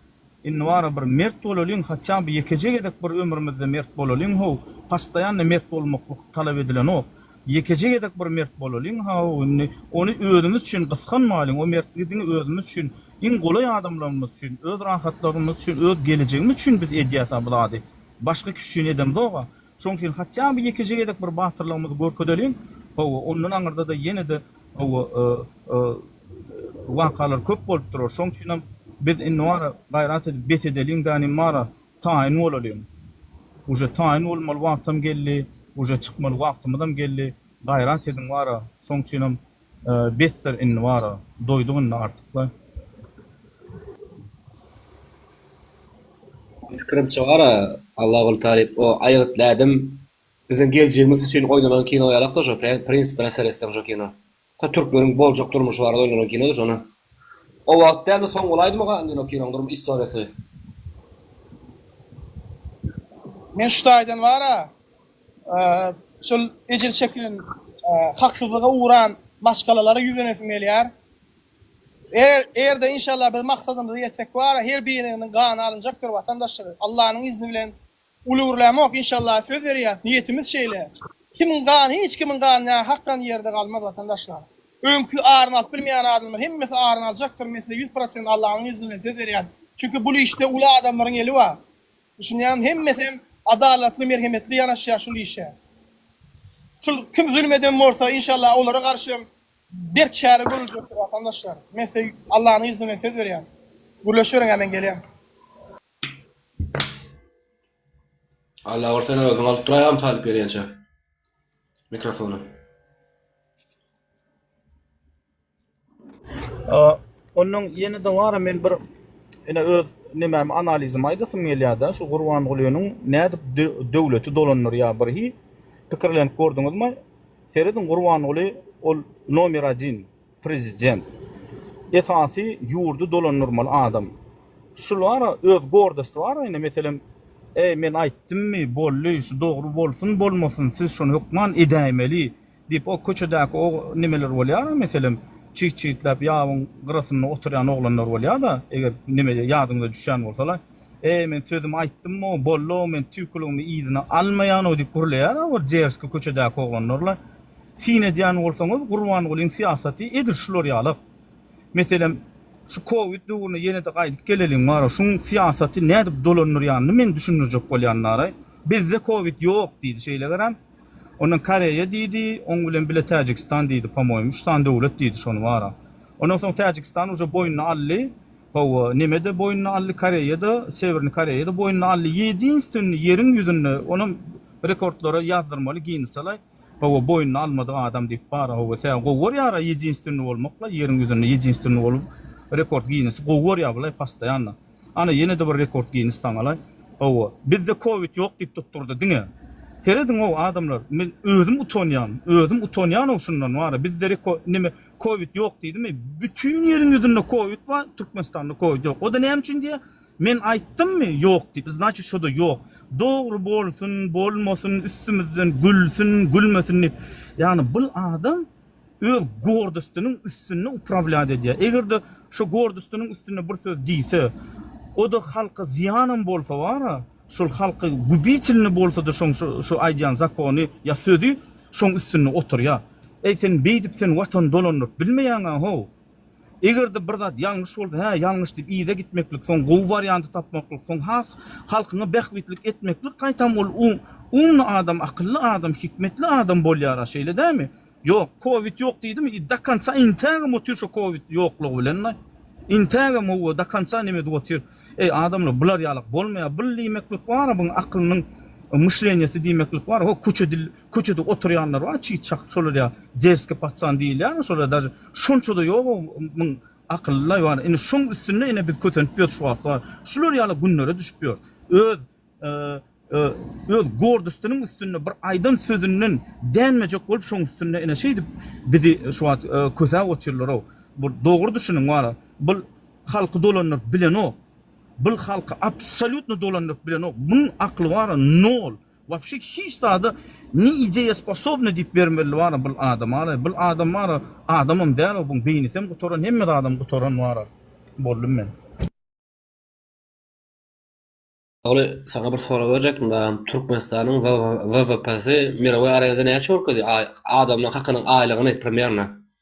indi bara bir mert bolalyň hatýaby ýekeje gezek bir ömrümizde mert bolalyň how pastaýanna mert bolmaklyk talap edilenok ýekeje gezek bir mert bolalyň how indi ony özümiz üçin gysganmalyň o mertligi diňe özümiz üçin iň golaý adamlarymyz üçin öz rahatlarymyz üçin öz gelejegimiz üçin biz edýäsa bu zady başga kişi üçin edemzoga Şoň üçin hatýa bir ýekeje gezek bir batyrlygymyzy görkezeliň. Hawa, ondan aňyrda-da ýene-de, hawa, wakalar köp bolup durar. Şoň üçinem biz indi bara gaýrat edip bes edeliň, gani bara taýyn bolalyň. Uje taýyn bolmaly wagtam geldi, uje çykmaly wagtymyzam geldi. Gaýrat ediň bara. Şoň üçinem Besdir indi bara doýduk indi artykla. Pikirimçe bara Allaguly Talyp o aýgytly ädim biziň geljegimiz üçin oýnalan kino ýalakda şo prinsipine seretseň şo kino ta türkmeniň boljak durmuşy barada oýnalan kinoda şony o wagt dälde soň bolaýdymy gan indi o kinoň durmuş istoriýasy. Men şu taýdan bara. şol ejir çekilen, haksyzlyga ugran maşgalalara ýüzlenesim gelýär. Erde inşallah biz maksadymyza ýetsek bar, her biriniň gany alynjakdyr watandaşlar. Allanyň izni bilen uly gürlämok inşallah söz berýäs, niýetimiz şeýle. Kimiň gany, hiç kimiň gany nähakdan ýerde galmaz watandaşlar. Öňki aryny alyp bilmeýän adamlar hemmesi aryny aljakdyr, men size ýüz prosent Allanyň izni bilen söz berýän. Çünki bul işde uly adamlaryň eli bar. Düşünýäňmi, hemmesem adalatly, merhemetli ýanaşýar şul işe. Şul kim zulum eden bolsa, inşallah olara garşam berk çäre görüljekdir watandaşlar. Men size Allanyň yzy bilen söz berýän. Gürleşiberiň-ä men gelýän. Alla bir seni özüň alyp duraý agam talyp gelýänçä mikrofony. Ondan ýene dowara men bir ine öz nemämi analizimi aýdasym gelýärdi. Şu Gurbangulynyň nädip döwleti dolandyrýar bir hi pikirlenip gördüňizmi? Serediň Gurbanguly ol nomer 1 prezident. Esasy ýurdy dolandyrmaly adam. Şulara öz gordosty bar ine meselem eý men aýtdymmy boldy şu dogry bolsun bolmasyn siz şony hökman edäýmeli Diýip, o köçedäki o nemeler bolýar-a, meselem, çyg-çygtläp ýabyň gyrasynda oturýan oglanlar bolýar-da, eger neme ýadyňyza düşýän bolsa-la, Eý, men sözümi aýtdym-ow, boldy-ow, men tüýküligimi yzyna almaýan-ow diýip gürleýär-a bir derski köçedäki oglanlar-la. Syn edýän bolsaňyz, Gurbangulyň syýasaty edil şular ýalak. Meselem, şu kowid döwrüne ýene-de gaýdyp geleliň bara, şuň syýasaty nädip dolandyrýanyny men düşündirjek bolýan bara. Bizde kowid ýok diýdi, şeýlegerem, Ondan Koreýa diýdi, oň bilen bile Täjigistan diýdi, pomoým, üç sany döwlet diýdi şony bara. Ondan soň Täjigistan uje boýnuna aldy, hawa, neme-de boýnuna aldy, Koreýa-da, Sewerni Koreýa-da boýnuna aldy, ýedinstwennyý ýeriň ýüzünde, onam rekordlara ýazdyrmaly Ginnesa-laý, hawa, boýnuna almadyk adam diýip bara, hawa, tä gowy görýär-ä ýedinstwennyý bolmak-laý, ýeriň ýüzünde ýedinstwennyý bolup rekord Ginnesi gowy görýär bulaý postoýanno. Ana ýene-de bir rekord Ginnis taňalaý. Hawa, bizde kowid ýok diýip tutdurdy diňe. Serediňow adamlar, men özüm utanýan, özüm utanýan-ow şundan wara, bizde reko, neme, kowid ýok diýdimi, bütin ýeriň ýüzünde kowid bar, Türkmenistanda kowid ýok. O-da näme üçin diýýär, men aýtdymmy ýok diýip, znaçit şo-da ýok. Dogry bolsun, bolmasyn, üstümizden gülsün, gülmesin diýip. Ýagny bul adam. öz gordystynyň üstünde uprawlýat edýär. Eger-de şo gordystynyň üstünde bir söz diýse, o-da halka zyýanam bolsa bar-a, şol halka gubitelny bolsa-da şoň şo aýdýan zakony ýa sözi şoň üstünde oturýar. Äý, sen beýdip sen watany dolandyryp bilmeýäň-ä-how! Eger-de bir zat ýalňyş bolsa, hä, ýalňyş diýip yza gitmeklik, soň gowy warianty tapmaklyk, soň has halkyňa bähbitlik etmeklik, gaýtam ol umly adam, akylly adam, hikmetli adam bolýar-a, şeýle dämi? Ýok, kowid ýok diýdimi, i do konca intägem otyr şo kowid ýoklugy bilen-le. Intägem hawa, do konca neme edip otyr. Eý, adamlar, bular ýalak bolmaýar. Bul diýmeklik bar-a, buň aklynyň myşleniýesi diýmeklik bar-a. Ho, köçe dil. Köçede oturýanlar bar çyg çak şolar ýa derski patsan diýilýärmi şolar daže şonçada ýoga muň akylly ýoga indi şoň üstünde ine biz kösenip ýörüs şu wagtlar bar şular ýaly günlere düşüp ýörüs öz öz gordystynyň üstünde bir aýdan sözünden dänmejek bolup şoň üstünde ine şeýdip bizi şu wagt kösäp otyrlarow bul dogry düşüniň wara bul halky dolandyryp bilenok bul halky absolýutno dolandyryp bilenok muň akly wara nol. Wapşe hiç zada ne ideya sposobny diyip bermeli bara bul adam ara bul adam bara adamam dal o bun beynisem gutaran hemme zadam gutaran bara boldum men. Ogly saňa bir sorag berjekdim dagam Türkmenistanyň WWPsy mirowy arezada näçe görkezýär adamlaryň hakynyň aýlygyny primernä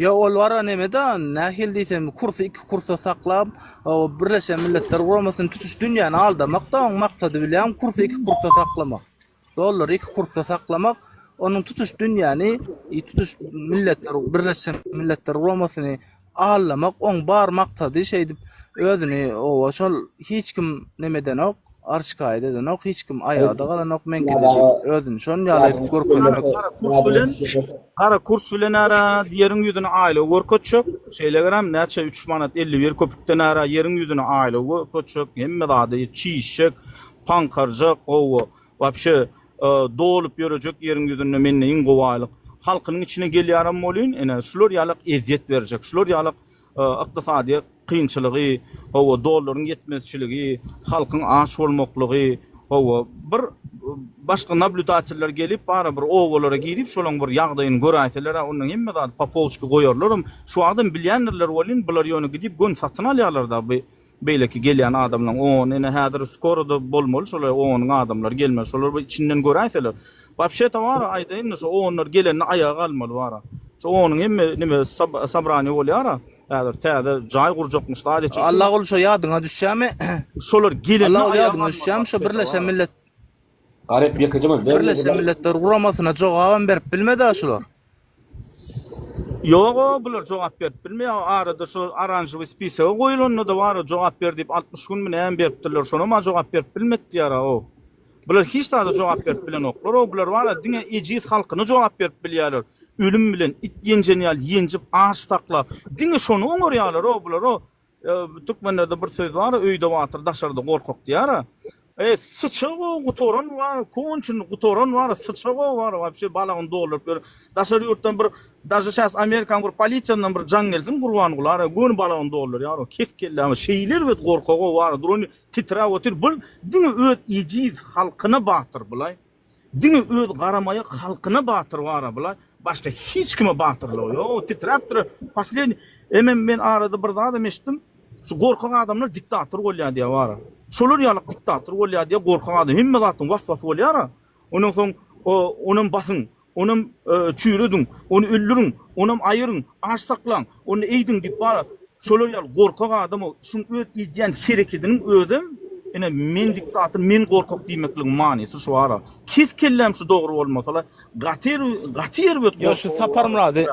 Ýa ol wara neme da nähili diýsem kursy iki kursa saklap birleşen milletler guramasyny tutuş dünýäni aldamak da oň maksady bilýän kursy iki kursa saklamak. Dollary iki kursa saklamak onuň tutuş dünýäni e, tutuş milletler birleşen milletler guramasyny aldamak oň bar maksady şeýdip özüni owa şol hiç kim nemedenok Arş kaýda edenok hiç kim aýada galanok meňkini diýip özüni şon ýaly görkezmek. Gara kurs bilen gara kurs bilen ara ýeriň ýüzüni aýlaw görkezjek şeýlegerem näçe üç manat elli bir köpükden ara ýeriň ýüzüni aýlaw görkezjek hemme zady çişjek paňkarjak gowy wapşe dolup ýörejek ýeriň ýüzünde mende iň gowy aýlyk halkynyň içine gelýärem bolýyn ene şular ýalak ezýet berjek şular ýalak Ykdysadyýet kynçylygy, hawa, dollaryň ýetmezçiligi, halkyň aç bolmaklygy, hawa, bir başga nablýudateller gelip, bara bir obalara girip, şolaň bir ýagdaýyny göräýseler-ä, onda hemme zady popolçki goýarlaram. Şu wagtam bilýändirler welin, bular ýöne gidip gön satyn alýarlar-da, bu. Beýleki gelýän adamlaň on ine häzir skoroda bolmaly şolar onyň adamlary gelmeli şolar bir içinden göräýseler. Wapşeta bara aýdaýynda şo onlar gelende aýaga galmaly bara. Şo onyň hemme nime sabraniýa bolýara häzir täze jaý gurjakmyş zat etjek. Allaguly şo ýadyňa düşýämi? Şolar gelende aýaga galmaly wapşeta bara. Allaguly ýadyňa düşýämi şo birleşen millet. Birleşen Milletler Guramasyna jogabam berip bilmedä şular. Ýoga bular jogap berip bilmeýä arada şu aranžowy spisagi goýulanda-da bara jogap ber diýip altmyş günmi nämi beripdirler şonama jogap berip bilmepdiýara ow bular hiç zada jogap berip bilenoklar ow bular bara diňe ejiz halkyna jogap berip bilýäler ölüm bilen it ýenjen ýaly ýenjip aç saklap diňe şony oňarýalar ow bular ow Ýa türkmenlerde bir söz bar öýde batyr daşarda gorkak diýara. E syça gowy gutaran bar konçini gutaran bar syça gowy bar wapşe balagyny dolduryp ýör. Daşary ýurtdan bir daže şas amerikan bir polisiýandan bir jaň gelsin gurbangulara göni balagyny doldurýar o kesik kellämi şeýle erbet gorkagy bar durany titrap otyr bul diňe öz ejiz halkyna batyr bulaý. Diňe öz garamaýak halkyna batyr bara bula başga hiç kime batyrlygy ýok o titräp durar posledni emem men arada bir zadam eşitdim şu gorkak adamlar diktator bolýar diýär bara şolar ýalyk diktator bolýar diýär gorkak adam hemme zatyň was was bolýara ondan soň onam basyň Onam çüýrediň, ony öldüriň, onam aýyryň, aç saklaň, onda eýdiň diýip bala şolar ýaly gorkak adama şuň öz edýän herekediniň özem ine men diktator men gorkak diýmekligiň manysy şu ara kes kelläm şu dogry bolmasala gaty gaty erbet Ýa şu Saparmyrady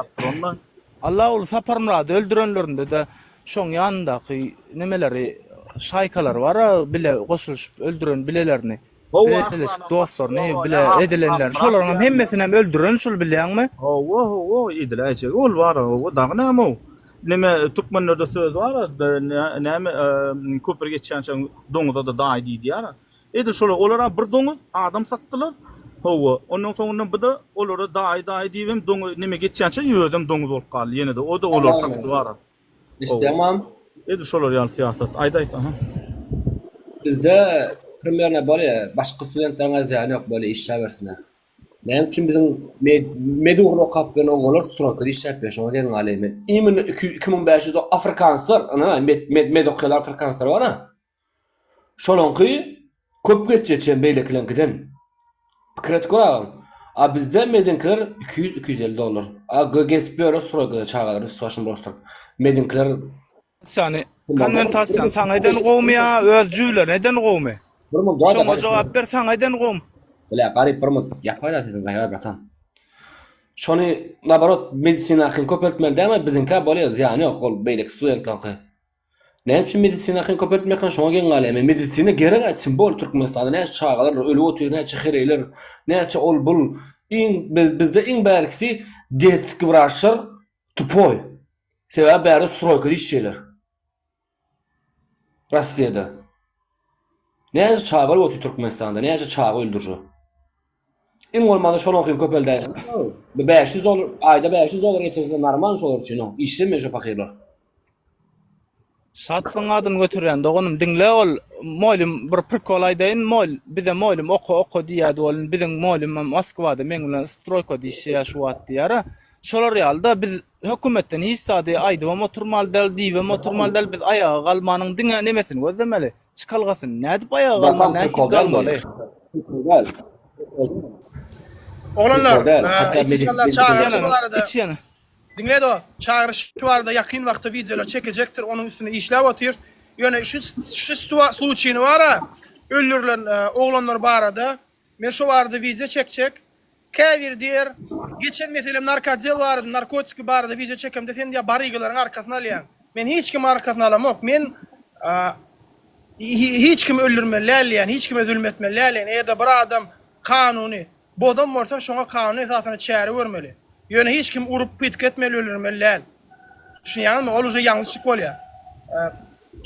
Alla ol Saparmyrady öldürenlerindede şoň ýanyndaky nemeleri şaýkalary bara bile goşulyşyp öldüren bilelerini. Bileleşik dostlaryny bile edilenlerini şolaryňam hemmesinem öldüren şul bilýäňmi. Hawa hawa edil äýjegi ol bara hawa dagy näme ow. Neme türkmenlerde söz bar näme köpri geçýänçe doňuzada daýy diýýär. Edil şolar olara bir doňuz adam satdylar hawa ondan soňundan bide olara daýy daýy diýibem doňuz neme geçýänçe özem doňuz bolup galdy ýenede oda olar satdy bara. Islemam. Edil şolar ýaly syýasat. Aýt aýt aha. Bizde primerno bolýa başga studentleriň azýany ýok bolýa işläbersinler. Näme üçin biziň med ugruny okap bilen oňalar strokada işläp biler şoňa geň galýa men. Immino iki iki müň bäş ýüz afrikanslar ana med med med okýalar afrikanslar bara. Şolaňky köp geçje çen beýlekileňkiden pikir et gör agam. A bizde mediňkiler iki ýüz iki ýüz elli dollar. A gö gezip ýörüs stroýkada çagalary üst başyny bulaşdyryp. Mediňkiler Sany konwentasiýany saňa eden gowmy ýa öz jüýlerine eden gowmy? Bir mul dada Şoňa jogap ber saňa eden gowmy? Bile garyp bir mul ýapaýda sesiň gaýar bratan. Şony naborot medisinakyn köpeltmeli dämi biziňkä bolýa zyýany ýok ol beýleki studentlaňky. Näme üçin medisina akyny köpeltmek han şoňa geň galýar. Men medisina gerek aýtsyn bol Türkmenistanda näçe çagalar ölüp otyr näçe hereýler näçe ol bul iň bizde iň bärkisi detski wraçlar tupoý sebäbi bäri stroýkada işleýler Rossiýada näçe çaga ölüp otyr Türkmenistanda näçe çaga öldürje. Iň bolmanda şonuňkyny köpeldäýiň. Bir bäş ýüz dollar, aýda bäş ýüz dollar getirse narmal şolar üçin, o, işlemeýär şo pahyrlar. Şatlygyň adyny göterýän doganym diňle ol Molym bir prikol aýdaýyn Mol bize Molym oka oka diýýädi ol indi biziň Molymam Moskwada meň bilen stroýka diýişýä şu wagt diýýärä şolar ýalyda biz Hökümetden hiç zady aýdybam oturmaly däl, diýibem oturmaly däl. Biz aýaga galmanyň diňe nämesini gözlemeli? Çykalgasyny. Nädip aýaga galmaly, nähili galmaly? Oglanlar, içýanlar çagyryşy barada. Içýan. Diňle dost, çagyryş barada ýakyn wagtda wideolar çekejekdir, onuň üstünde işläp otyrys. Ýöne şu şu sluçini bar-a, öldürilen oglanlar barada Men şo barada wideo çekjek. Käbir diýer, geçen meselem narkodel barada, narkotiki barada wideo çekemde sen diýýär barygylaryň arkasyny alýaň. Men hiç kimiň arkasyny alamok. Men hiç kimi öldürmeli dälýän, hiç kime zulum etmeli dälýän. Eger-de bir adam kanuny bozan bolsa, şoňa kanun esasynda çäre görmeli. Ýöne hiç kim urup pytk etmeli, öldürmeli däl. Düşünýäňizmi? Ol uje ýalňyşlyk bolýar.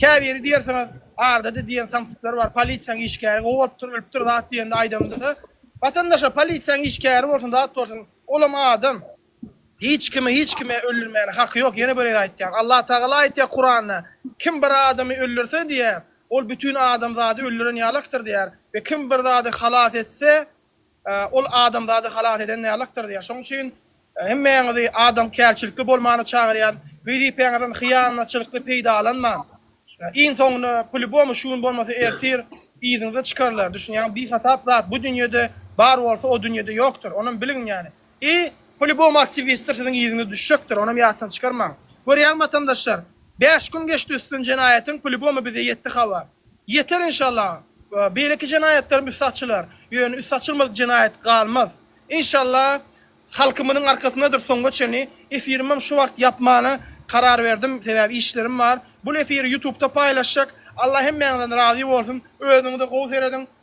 Käbiri diýersiňiz, arda-da diýen samsyklar bar, polisiýaň işgäri gowy bolupdyr, ölüpdir zat diýende aýdamyzda, Watandaş-a, polisiýaň işgäri bolsun, zat bolsun, olam adam. Hiç kimi hiç kime öldürmäne haky ýok, ýene bir gezek aýtýan. Allatagala aýtýar Kuranda, Kim bir adamy öldürse diýýär, ol bütin adamzady öldüren ýalakdyr diýýär we kim bir zady halas etse, Ol adamzady halas eden Mällakdyr diýýär. Şonuň üçin hemmäňizi adamkärçilikli bolmana çagyrýan, wezipäňizden hyýanatçylykly peýdalanman. Iň soňunda plyubomy şu gün bolmasa ertir yzyňyza çykarlar. Düşünýäňmi? Bihasap zat bu dünýede bar bolsa o dünýede ýokdur. Onam biliň ýani. I polibom aktiwistler siziň yzyňyz düşjekdir, onam ýatdan çykarmaň. Görýäň watandaşlar, bäş gün geçdi üstüden jenaýatyň, polibomy bize ýetdi habar. Ýeter inşallah, beýleki jenaýatlaram üsti açylar, ýöne üsti açylmadyk jenaýat galmaz. Inşallah halkymyzyň arkasyndadyr soňga çenli. Efirimem şu wagt ýapmana karar berdim, sebäbi işlerim bar. Bul efiri ýutubda paýlaşjak. Allah hemmäňizden razy bolsun. Özüňize gowy serediň.